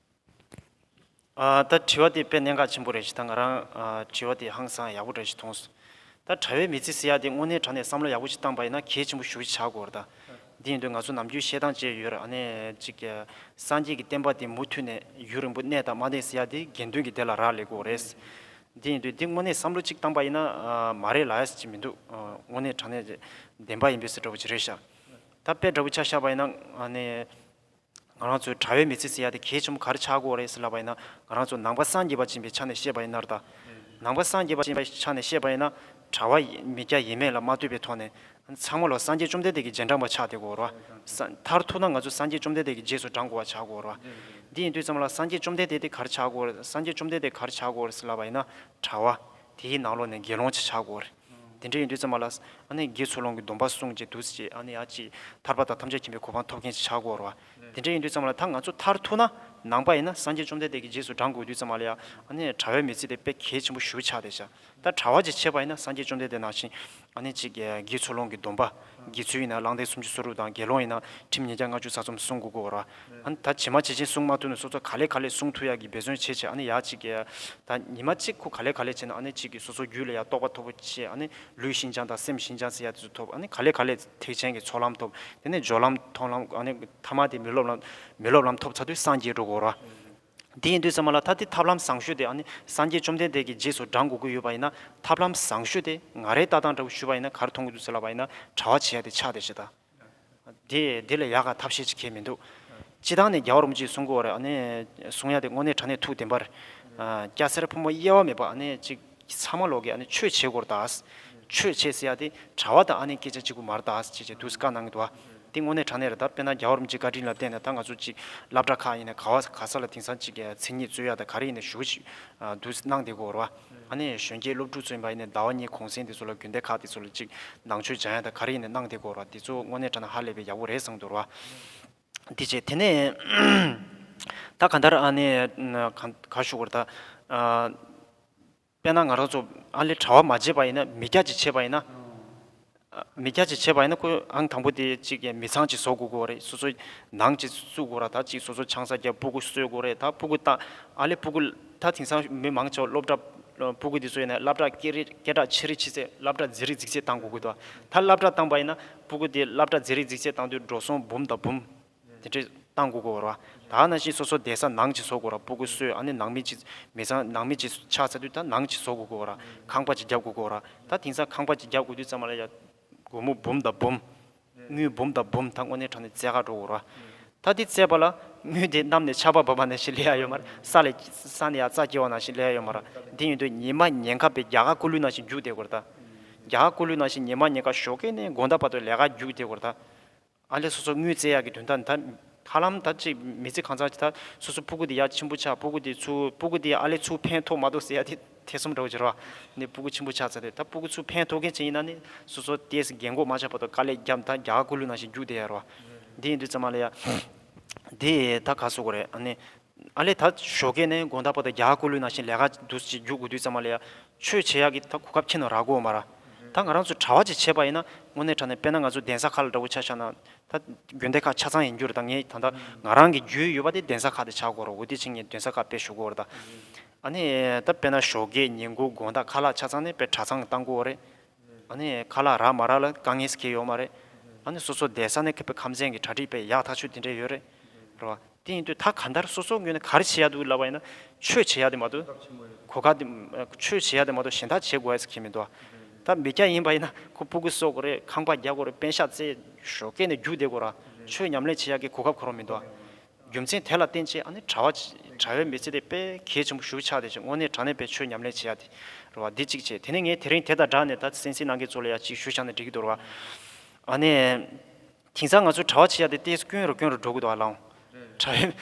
ད་དྲི་བ་དེ་དཔེ་གནད་འགག་ཆེན་པོ་རེད་ཞེས་ད་ང་རང་དྲི་བ་དེ་ཧང་སང་ཡག་པོ་རེད་ཞེས་མཐོང་སོང། ད་གྲྭ་བའི་མི་ཚེ་ཟེར་ཡག་དེ་དངོས་གནས་དྲ་ནས་བསམ་བློ་ཡག་པོ་ཞིག་བཏང་པ་ཡིན་ན་གལ་ཆེན་པོ་ཞུ་བཞི་བྱ་དགོས་རེད་ད། དེ་ཡིན་དུས་ང་ཚོ་ནམ་རྒྱུན་བཤད་སྟངས་བཅས་ཡོད་རེད་ཨ་ནེ་ཅིག་སངས་རྒྱས་ཀྱི་བསྟན་པ་དེ་མུ་མཐུད་ནས་ཡུན་རིང་པོ་གནས་དང་མ་གནས་ཟེར་ཡག་དེ་དགེ་འདུན་གྱི་སྡེ་ལ་རག་ལས་དགོས་རེད། དེ་ཡིན་དུས་དེ་དངོས་གནས་བསམ་བློ་གཅིག་བཏང་པ་ཡིན་ན་མ་རེད་ལ་ཅིག་མི་འདུག་དངོས་གནས་དྲ་གནས་བདེན་པ་ཡིན་པས་སུ་འདྲ་བོ་ཅི་རེད་ཤག་ད་དཔེ་འདྲ་བོ་ཆ་ཤར་བ་ཡིན་ན་ཨ་ནེ་ང་རང་ཚོའི་གྲྭ་བའི་མི་ཚེ་ཚེ་ཡག་དེ་གས་ཆོམ་ག་རེ་ཆགས་དགོས་རེད་ཟེར་ལབ་པ་ཡིན་ན་ང་རང་ཚོ་ནང་པ་སངས་རྒྱས་པ་ཅན་པའི་ཆ་ནས་བཤད་པ་ཡིན་ནར་ད། ནང་པ་སངས་རྒྱས་པ་ཅན་པའི་ཆ་ནས་བཤད་པ་ཡིན་ན་གྲྭ་བ་མི་སྐྱ་ཡིན་མེད་ལ་མ་ལྟོས་པའི་ཐོག་ནས་ཚང་མ་ལ་སངས་རྒྱས་བཅོམ་ལྡན་འདས་ཀྱི་རྗེས་འབྲང་པ་ཆགས་དེ་དགོས་ར། མཐར་ཐུག་ན་ང་ཚོ་སངས་རྒྱས་བཅོམ་ལྡན་འདས་ཀྱི་རྗེས་སུ་འབྲང་དགོས་བ་ཆགས་དགོས་ར། འདི་ཡིན་དུས་ཙམ་ལ་སངས་རྒྱས་བཅོམ་ལྡན་འདས་དེ་ག་རེ་ཆགས་དགོས་རེད་སངས་རྒྱས་བཅོམ་ལྡན་འདས་ག་རེ་ཆགས་དགོས་རེད་ཟེར་ལབ་པ་ཡིན་ན་གྲྭ་བ་དེའི་ནང་ལོགས་ནས་དགེ་སློང་ཅིག་ཆགས་དགོས་རེད། དེ་འདྲ་ཡིན་དུས་ཙམ་མ་ལགས། ཨ་ནེ་རྒྱའི་ཚུར་ལོངས་ཀྱི་སྡོམ་པ་སྲུངས་ཅིག་འདུག་ཅེས་ཨ་ནེ་ཡ་ཅིག་ཐར་པ་དང་ཐམས་ཅད་མཁྱེན་པའི་གོ་འཕང་ཐོབ་མཁན་ཞིག་ཆགས་དགོས་རོ། དེ་འདྲ་ཡིན་དུས་ཙམ་མ་ལགས་ད་ང་ཚོ་མཐར་ཐུག་ན་ནང་པ་ཡིན་ན་སངས་རྒྱས་བཅོམ་ལྡན་འདས་ཀྱི་རྗེས་སུ་འབྲང་དགོས་དུས་ཙམ་མ་ལགས་ཨ་ནེ་གྲྭ་བས་མི་ཚེ་དེ་དཔེ་གལ་ཆེན་པོ་ཞུ་ཆགས་ཏེ་བཞག་ད་གྲྭ་བ་ཅིག་བྱེད་པ་ཡིན་ན་སངས་རྒྱས་བཅོམ་ལྡན་འདས་ནང་བཞིན་ཨ་ནེ་ཅིག་རྒྱའི་ཚུར་ལོངས་ཀྱི་སྡོམ་པ། དགེ་ཚུལ་ཡིན་ན་གླང་ལྡན་སུམ་ཅུ་སོ་དྲུག་དང་དགེ་སློང་ཡིན་ན་ཁྲིམས་ཉིས་བརྒྱ་ལྔ་བཅུ་ས་ཚོམ་གསུང་དགུ་གོ། ཨཱ་ད་བྱེ་མ་བྱེ་ཆེན་སྲུང་མ་ཐུ་ནི་སོ་སོ་ག་ལས་ག་ལས་སྲུང་ཐུ་ཡག་གི་འབད་བརྩོན་བྱེད་བྱེད་ཨ་ནི་ཡག་གཅིག་གི། ད་ཉི་མ་གཅིག་ཁུ་ག་ལས་ག་ལས་བྱེད་ན་ཨ་ནི་གཅིག་གི་སོ་སོ་རྒྱུད་ལ་ཡག་རྟོགས་པ་ཐོབ་བོ་བྱེད་ཨ་ནི་ལུས་ཤིན་སྦྱངས་དང་སེམས་ཤིན་སྦྱངས་ཚེ་ཡག་དེ་ཚོ་ཐོབ་ཨ་ནི་ག་ལས་ག་ལས་ཐེག་ཆེན་གི་ཚོགས་ལམ་ཐོབ་དེ་ནས་སྦྱོར་ལམ་མཐོང་ལམ་ཨ་ནི་ཐ་མ་དེ་མི་སློབ་ལམ་མི་སློབ་ལམ་ཐོབ་ཚ་དུས་སངས་རྒྱས་འགྲོ་གོ། དེ་ཡིན་དུས་ཚང་མ་ལ་ད་དེ་ཐབས་ལམ་བཟང་ཤོས་དེ་ཨ་ནི་སངས་རྒྱས་བཅོམ་ལྡན་འདས་ཀྱི་རྗེས་སུ་འབྲང་དགོས་ཀྱི་ཡོད་པ་ཡིན་ན་ཐབས་ལམ་བཟང་ཤོས་དེ་ང་རའི་ལྟ་སྟངས་འདྲ་བོ་ཞུས་པ་ཡིན་ན་གར་མཐོང་གི་འདུག་ཟེར་ལབ་པ་ཡིན་ན་གྲྭ་བ་བྱེད་ཡ་དེ་ཆགས་བསྡད་བྱེད་ད། དེ་དེ་ལས་ཡག་ག་ཐབས་ཤེས་ཅིག་ཁྱེད་མི་འདུག། སྤྱི་བཏང་ནས་རྒྱ་བ་རུ་མོ་ཅིག་གསུང་དགོས་བ་རེད་ཨ་ནི་གསུང་ཡ་དེ་དངོས་གནས་དྲ་གནས་ཐུགས་བདེན་པར། སྐྱ་སེར་ཕོ་མོ་དབྱེ་བ་མེད་པར་ཨ་ནི་ཅིག། ཀྱི་ཚ་མ་ལོག་གི་ཨ་ནི་ཆོས་བྱེད་སྐོར་དང། ཆོས་བྱེད་ཟེར་ཡ་དེ་གྲྭ་བ་དང་ཨ་ནེ་སྐད་ཆ་གཅིག་པུ་མར་དང་ཅེས་བྱས་དུས་སུ་བཀའ་གནང་གི་འདུག་ཨ་དེ་དངོས་གནས་དྲང་གནས་རེད་ད་དཔེར་ན་རྒྱ་བོར་མི་གཅིག་བཀའ་དྲིན་ལ་བརྟེན་ནས་ད་ང་ཚོ་གཅིག་བླ་བྲ་ཁག་ཡིན་ནས་ག་བ་ག་ས་ལ་དེང་སང་གཅིག་མཚན་ཉིད་རྩོད་ཡ་དང་ག་རེ་ཡིན་ནས་ཞུ་གི་ཅིག་འདུག་གནང་དེ་སྐོར་ཨ་ནེ་གཞོན་སྐྱེས་སློབ་ཕྲུག་ཚོ་ཡིན་པ་ཡིན་ནས་ཟླ་བ་གཉིས་གོང་གསེང་དེ་ཚོ་ལ་དགོན་སྡེ་ཁག་དེ་ཚོ་ལ་གཅིག་ནང་ཆོས་སྦྱང་ཡ་དང་ག་རེ་ཡིན་ནས་གནང་དེ་སྐོར་ཨ་དེ་ཚོ་དངོས་གནས་དྲ་ན་ཧ་ལས་པའི་ཡག་པོ་རེད་བསམ་གི་འདུག་ར། དེ་བྱས། དེ་ནས་ད་ག་འདར་ཨ་ནེ་ག་བཞུགས་པར་ད། དཔེར་ན་ང་རང་ཚོ་ཨ་ལས་གྲྭ་བ་མ་བྱས་པ་ཡིན་ན་མི་སྐྱ་ཅིག་བྱས་པ་ཡིན་ན། མི་སྐྱ་ཅིག་བྱས་པ་ཡིན་ན་ཁོས་ཨང་དང་པོ་དེ་གཅིག་མི་ཚང་གཅིག་བཟོ་དགོས་དགོས་པ་རེད་སོ་སོ་ནང་གཅིག་བཙུགས་དགོས་ར་ད་གཅིག་སོ་སོ་ཆང་ས་རྒྱབ་སྤུ་གུ་གསོལ་དགོས་རེད་ད་སྤུ་གུ་བཏང་ཨ་ལས་སྤུ་གུ་ད་དེང་སང་མི་མང་ཆེ་བ་སློབ་གྲྭ་སྤུ་གུ་དེ་ཚོ་ཡིན་ན་སླབ་གྲྭ་སྐད་རིགས་སྐད་གྲགས་ཆེ་རིགས་ཆེ་ཚད་སླབ་གྲྭ་མཛེས་རིགས་མཛེས་ཚད་བཏང་དགོས་དགོས་དོ་ད་སླབ་གྲྭ་བཏང་པ་ཡིན་ན། སྤུ་གུ་དེ་བླ་བྲ་མཛེས་རིག་འཛིགས་བྱེད་བཏང་དུས་འགྲོ་སོང་འབུམ་དང་འབུམ། དེ་འདྲས་བཏང་དགོས་དགོས་བར། ད་ནང་བཞིན་སོ་སོ་འདས་ས་ནང་བྱི་བཟོ་དགོས་བར་སྤུ་གུ་གསོས་ཨ་ནི་ནང་མི་བྱི། མི་ཚང་ནང་མི་བྱི་ཆགས་ཚར་དུས་ད་ནང་བྱི་བཟོ་དགོས་དགོས་བར། ཁང་པ་བྱི་རྒྱབ་དགོས་དགོས་བར། ད་དེང་སང་ཁང་པ་བྱི་རྒྱབ་དགོས་དུས་ཙམ་མ་ལ་ཡ། སྒོར་མོ་འབུམ་དང་འབུམ། དངུལ་འབུམ་དང་འབུམ་ད་དངོས་གནས་དྲང་ནས་རྩེ་གར་འགྲོ་དགོས་བར། ད་དེ་བཙས་པ་ལ་དངུལ་དེ་བསྣམས་ནས་ཆར་པ་བབས་པ་ནས་ཞིག་ལས་ཡག་ཡོད་མ་རེད། ས་ལས། ས་ནས་ཡར་རྩྭ་སྐྱེ་བ་ནང་བཞིན་ལས་ཡག་ཡོད་མ་ར། དེ་ཡིན་དུས་ཉི་མ་ཉེན་ཁ་པས་རྒྱ་གར་སྐུ་ལུས་ནང་བཞིན་རྒྱུགས་བསྡད་དགོས་ར་ད། རྒྱ་གར་སྐུ་ལུས་ནང་བཞིན་ཉི་མ་ཉེན་ཁ་ཞོག་གེ་ནས་དགོན་བདག་བར་དུ་ལས་ཀ་རྒྱུགས་བསྡད་དགོས་ར་ད། ཨ་ལས་སོ་སོ་དངུལ་བཙས་ཡག་གི་དོན་དག་འདི་ད། ཧ་ལམ་ད་ཅིག་མི་ཚེ་གང་ཚར་གྱི་ད་སོ་སོ་སྤུ་གུ་དེ་ཡག་ཆེན་པོ་ཆགས་སྤུ་གུ་དེ་ཚུ་སྤུ་གུ་དེ་ཡང་ཨ་ལས་ཚུ་ཕན་ཐོགས་མ་ཐོགས་ཟེར་ཡ་དེ། ཐེ་ཚོམ་འདྲ་བོ་བྱེད་རོགས། ནས་སྤུ་གུ་ཆེན་པོ་ཆགས་ཚར་ཏེ་ད་སྤུ་གུ་ཆུ་ཕན་ཐོགས་མཁན་ཅིག་ཡིན་ན་ནི་སོ་སོ་ལྟས་རྒན་གོག་མ་ཆགས་པ་དང་དཀའ་ལས་རྒྱབ་མཐའ་རྒྱ་གར་སྐུ་ལུས་ནང་བཞིན་རྒྱུགས་བསྡད་ཡ་རོགས། དེ་ཡིན་དུས་ཙམ་ཨ་ལས་ཡ། དེ་ད་ག་བཟོ་དགོས་རེད་ཨ་ནི། ཨ་ལས་ད་ཞོ་གས་ནས་དགོན་ད་པ་དང་རྒྱ་གར་སྐུ་ལུས་ནང་བཞིན་ལས་ཀ་འདུ་ཅིག་རྒྱུགས་དགོས་དུས་ཙམ་ཨ་ལས་ཡ། ཆོས་བྱེད་ཡག་གི་ད་གོ་སྐབས་ཁྱེད་ནང་རག་གོ་མ་ར། ད་ང་རང་ཚོ་གྲྭ་བ་ཅིག་བྱས་པ་ཡིན་ན་དངོས་གནས་དྲ་ནས་དཔེ་ན་ང་ཚོ་གདན་ས་ཁག་ལ་འདྲ་བོ་ཆ་བཞག་ན། ད་དགོན་སྡེ་ཁག་ཆ་ཚང་ཡིན་རྒྱུ་རེད་ད་ངས་ད་ད་ང་རང་གི་རྒྱུས་ཡོད་པ་དེ་གདན་ས་ཁག་དེ་ཆགས་དགོས་རོགས་འོ་དེ་ཕྱིན་ངས་གདན་ས་ཁག་དཔེ་ཞུ་དགོས་རེད་ད། ཨ་ནི། ད་དཔེ་ན་ཞོགས་ཀའི་ཉིན་དགུ་དགོང་དག་ཁ་ལག་ཆ་ཚང་ནི་དཔེ་གྲ་ཚང་གི་ལྟ་མགོ་བོ་རེད། ཨ་ནི། ཁ་ལག་རག་མ་རག་ལ་དཀའ་ངལ་སི་ཁེལ་ཡོག་མ་རེད། ཨ་ནི། སོ་སོ་བསྡད་ས་ནི་ཁ་དཔེ་ཁམས་ཚན་གི་གྲ་སྒྲིག་པས་ཡག་ཐག་ཆོད་དེ་འདྲས་ཡོད་རེད། རེད་བ། དེ་ཡིན་དུས་ད་ག་འདར་སོ་སོ་ངོས་ནས་ག་རེ་བྱེད་ཡག་འདུག་ལབ་པ་ཡིན་ན། ཆོས་བྱེད་ཡག་དེ་མ་གཏོགས། གོ་སྐབས་ཆེན་པོ་རེད། གོ་སྐབས་དེ། ཆོས་བྱེད་ཡག་དེ་མ་གཏོགས་གཞན་དག་བྱེད་དགོས་ཡག་སི་ཁེལ་མི་འདུག་ཨ། ད་མི་སྐྱ་ཡིན་པ་ཡིན་ན་ཁོ་སྤུ་གུ་གསོག་དགོ་རེད་ཁང་པ་རྒྱག་དགོ་རེད་དཔེ་ཤག་རྩེ། ཞོགས་ཀའི་ནི་རྒྱུགས་བསྡད་དགོ་ར། ཆོས་ཉམས་ལེན་བྱེད་ཡག་གི་གོ་སྐབས་ཁོ་རང་མི་འདུག་ཨ། རྒྱུ་མཚན་དེ་ལ་བརྟེན་ཅེས་ཨ་ནི་གྲྭ་བ། གྲྭ་བའི་མི་ཚེ་དེ་དཔེ་གལ་ཆེན་པོ་ཞུ་ཆགས་ཏེ་ཅེས་དངོས་གནས་དྲང་གནས་པའི་ཆོས་ཉམས་ལེན་བྱེད་ཡ་དེ། རུ་བ་འདི་གཅིག་བྱས་དེ་ནས་ངས་དེ་རིང་དེ་དང་སྦྲགས་ནས་ད་སེམས་ཅན་ནང་གི་ཚོ་ལ་ཡ་གཅིག་ཞུ་ཆགས་ནས་འགྲིག་གི་འདུག་རུ་བ། ཨ་ནི། དེང་སང་ང་ཚོའི་གྲྭ་བ་བྱེད་ཡ་དེ་ལྟས་སུ་སྐྱོན་རུ་སྐྱོན་རུ་འགྲོ་གི་འདུག་ཨ་ལོང། གྲྭ་བའི།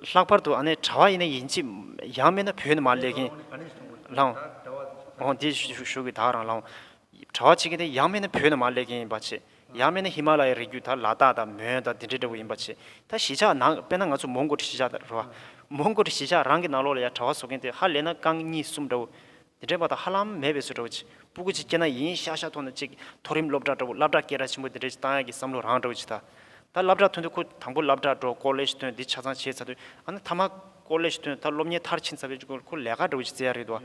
ལྷག་པར་དུ་ཨ་ནི་གྲྭ་བ་ཡིན་ན་ཡིན་གཅིག། ཡང་མིན་ན་བོད་ནས་མར་སླེབས་མཁན། ལོང། འོ་འདི་ཞུ་གི་དག་རང་ལོང། གྲྭ་བ་བྱེད་མཁན་དེ་ཡང་མིན་ན་བོད་ནས་མར་སླེབས་མཁན་ཡིན་པ་ཆེས། ཡང་མེད་ན་ཧི་མ་ལ་ཡའི་རི་རྒྱུད་དག་ལ་དྭགས་དང་མོན་དང་དེ་འདྲའི་འདྲ་བོ་ཡིན་པ་བྱས་ད་གཞིས་ཆགས་ནང་དཔེར་ན་ང་ཚོ་མོང་གོ་ཏྲི་གཞིས་ཆགས་རེད་བ། མོང་གོ་ཏྲི་གཞིས་ཆགས་རང་གི་ནང་ལོགས་ལ་ཡང་གྲྭ་བ་བཟོ་མཁན་དེ་ཧ་ལས་ན་རྐང་གཉིས་གསུམ་འདྲ་བོ། དེ་འདྲའི་བ་དང་ཧ་ལམ་མེད་པའི་ཚོད་འདྲ་བོ་བྱས་སྤུ་གུ་གཅིག་སྐྱེས་ན་ཡིན་ཤག་ཤག་ཐོག་ན་གཅིག་མཐོ་རིམ་སློབ་གྲྭ་འདྲ་བོ་བླ་བྲག་སྐད་གྲགས་ཆེན་པོ་དེ་འདྲའི་གཏང་ཡག་གི་བསམ་བློ་རང་འདྲ་བོ་བྱས་ད། ད་བླ་བྲག་ཐོན་དུས་ཁོ་དང་པོ་བླ་བྲག་འགྲོ་ཀོ་ལེ་ཞི་ཐོན་འདི་ཆ་ཚང་བྱས་ཚར་དུས་ཨ་ན་ཐ་མ་ཀོ་ལེ་ཞི་ཐོན་ད་སློབ་གཉེར་མཐར་ཕྱིན་ཚར་བས་ཁོ་ལས་ཀ་འདྲ་བོ་བྱས་ཚར་ཡག་རེད་དོ།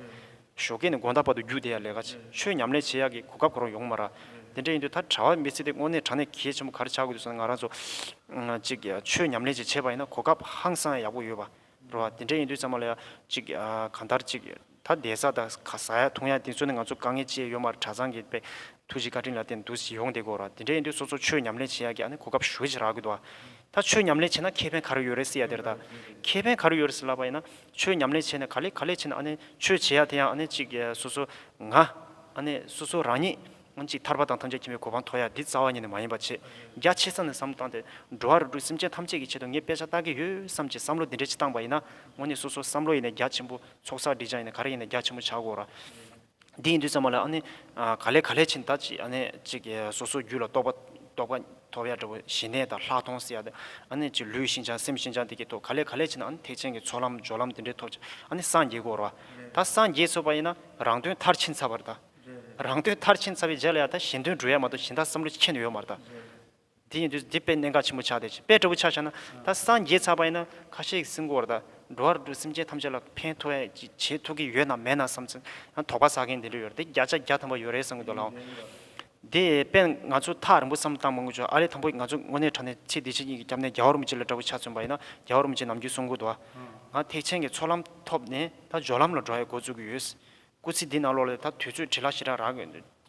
ཞོ་ཀེ་ནི་དགོན་བདག་པ་དུ་རྒྱུག་བསྡད་ཡ་ལས་ཀ་བྱས་ཆོས་ཉམས་ལེན་བྱེད་ཡག་གི་གོ་སྐབས་གོ་རོག་ཡོང་མ་ར། དེ་འདྲ་ཡིན་དུས་ད་གྲྭ་བ་མི་ཚེ་འདི་དངོས་གནས་གྲ་ནས་གལ་ཆེན་པོ་གར་ཆག་དགོས་འདུག་བསམ་ནས་ང་རང་ཚོ། ཅིག་ཆོས་ཉམས་ལེན་ཅིག་བྱས་པ་ཡིན་ན་གོ་སྐབས་ཧང་སང་ཡག་པོ་ཡོད་པ་རོ། དེ་འདྲ་ཡིན་དུས་ཙང་མ་ལ་ཡ། ཅིག་གང་ལྟར་ཅིག་ད་བསྡད་ས་དང་ག་ཟ་ཡ་འཐུང་ཡ་དེ་ཚོ་ནི་ང་ཚོ་དཀའ་ངལ་ཅེས་ཡོད་མ་ར་གྲྭ་ཚང་གི་པས་ཐུགས་རྗེ་བཀའ་དྲིན་ལ་བརྟེན་འདུག་ཟིག་ཡོང་བསྡད་དགོ་ར་དེ་འདྲ་ཡིན་དུས་སོ་སོ་ཆོས་ཉམས་ལེན་བྱེད་ཡག་གི་ཨ་ནི་གོ་སྐབས་ཞོལ་ཅིག་རག་དགོས་འདུག་ཨ། ད་ཆོས་ཉམས་ལེན་བྱས་ན་ཁེ་ཕན་ག་རེ་ཡོད་རེད་ཟེར་ཡ་དེ་རེད་ད། ཁེ་ཕན་ག་རེ་ཡོད་རེད་ཟེར་ལབ་པ་ཡིན་ན། ཆོས་ཉམས་ལེན་བྱས་ནས་ག་ལེ་ག་ལེ་བྱས་ནས་ཆོས་བྱེད་ཡ་དེ་ཡང་གཅིག་སོ་སོ་ང། སོ་སོ་རང་ཉིད་གཅིག་ཐར་པ་དང་ཐམས་ཅད་མཁྱེན་པའི་གོ་འཕང་མཐོ་ཡ་འདི་རྩ་བ་ཉིད་ནས་མ་ཡིན་པ་ཆེས་རྒྱ་ཆེ་ས་ནས་བསམ་བཏང་སྟེ་འགྲོ་བ་རུ་དྲུག་སེམས་ཅན་ཐམས་ཅད་ཀྱི་ཆེད་དུ་ངས་དཔེ་ཆ་བལྟ་གི་ཡོད་བསམ་གྱི་བསམ་བློ་འདི་འདྲའི་ཆེ་བཏང་པ་ཡིན་ན་དངོས་གནས་སོ་སོ་བསམ་བློ་ཡིན་ནས་རྒྱ་ཆེན་པོ་ཚོགས་བསགས་སྒྲིག་བྱ་ཡིན་ནས་ག་རེ་ཡིན་ནས་རྒྱ་ཆེན་པོ་བྱ་དགོས་ར། འདི་ཡིན་དུས་ཙམ་མ་ལ་ཨ་ནི། ག་ལས་ག་ལས་ཕྱིན་ད་ཅིག་ཨ་ནི་ཅིག། སོ་སོའི་རྒྱུད་ལ་རྟོག་པ་རྟོགས་པ་ཐོབ་ཡ་འདྲ་བོ་ཞི་གནས་དང་ལྷག་མཐོང་སྲིད་ཡ་ད་ཨ་ནི་ཅིག་ལུས་ཤིན་སྦྱངས་སེམས་ཤིན་སྦྱངས་དེ་ཀྱི་ཐོག་ག་ལས་ག་ལས་ཕྱིན་ཨ་ནི་ཐེག་ཆེན་གྱི་ཚོགས་ལམ་སྦྱོར་ལམ་དེ་འདྲའི་ཐོབ་ཅིག་ཨ་ནི་སངས་རྒྱས་འགོར་བ། ད་སངས་རྒྱས་ཚོལ་བ་ཡིན་ན་རང་དོན་མཐར་ཕྱིན་ཚར་བར་ད། རང་དོན་མཐར་ཕྱིན་ཚར་བའི་རྗེས་ལ་ཡ་ད་གཞན་དོན་འགྲོ་ཡ་མ་ཏོག་གཞན་དག་བསམ་བློ་ཁྱེད་ཡོད་མར་ད། དེ་ཡིན་དུས་འདི་དཔེ་གནད་འགག་ཆེན་པོ་ཆགས་ཏེ་དཔེ་ལྟ་བུ་ཆགས་ཆགས་ན་ད་སངས་རྒྱས་ཚར་པ་ཡིན་ན་ཁ་ཤས་ཀྱི་སྲིན་གོར་དང་འགྲོ་བ་རུ་སེམས་ཅན་ཐམས་ཅད་ལ་ཕན་ཐོགས་ཡ་ཅི་བྱེད་ཐུབ་ཀྱི་ཡོད་ནམ་མེད་ན་བསམ་ཚེ་ཡང་དོགས་པ་ཟ་མཁན་དེ་འདྲ་ཡོད་རེད་དེ་བརྒྱ་ཆ་བརྒྱ་ཐམ་པ་ཡོད་རེད་བསམ་གྱི་འདུག་ལགས། དེ་དཔེ་ང་ཚོས་ཐག་རིང་པོ་བསམ་བཏང་མི་དགོས་ཆོག་ཨ་རིའི་དང་པོ་ཡིན་ང་ཚོ་དངོས་གནས་དྲ་གནས་ཚེ་འདི་ཕྱི་གཉིས་ཀྱི་རྒྱབ་ནས་རྒྱ་བོར་མི་ཅི་ལ་འདྲ་བུ་ཆ་མཚོན་པ་ཡིན་ན་རྒྱ་བོར་མི་ཅི་ནམ་རྒྱུན་གསུང་གོ་དུ་བ། ང་ཐེག་ཆེན་གྱི་ཚོགས་ལམ་ཐོབ་ནས་ད་སྦྱོར་ལམ་ལ་འགྲོ་ཡའི་འགོ་བཙུགས་ཀྱི་ཡོད། སྐུ་ཚེ་འདི་ན་ལོག་ལས་ད་དུས་ཚོད་བྲེལ་ལ་ཞེ་དྲག་རག་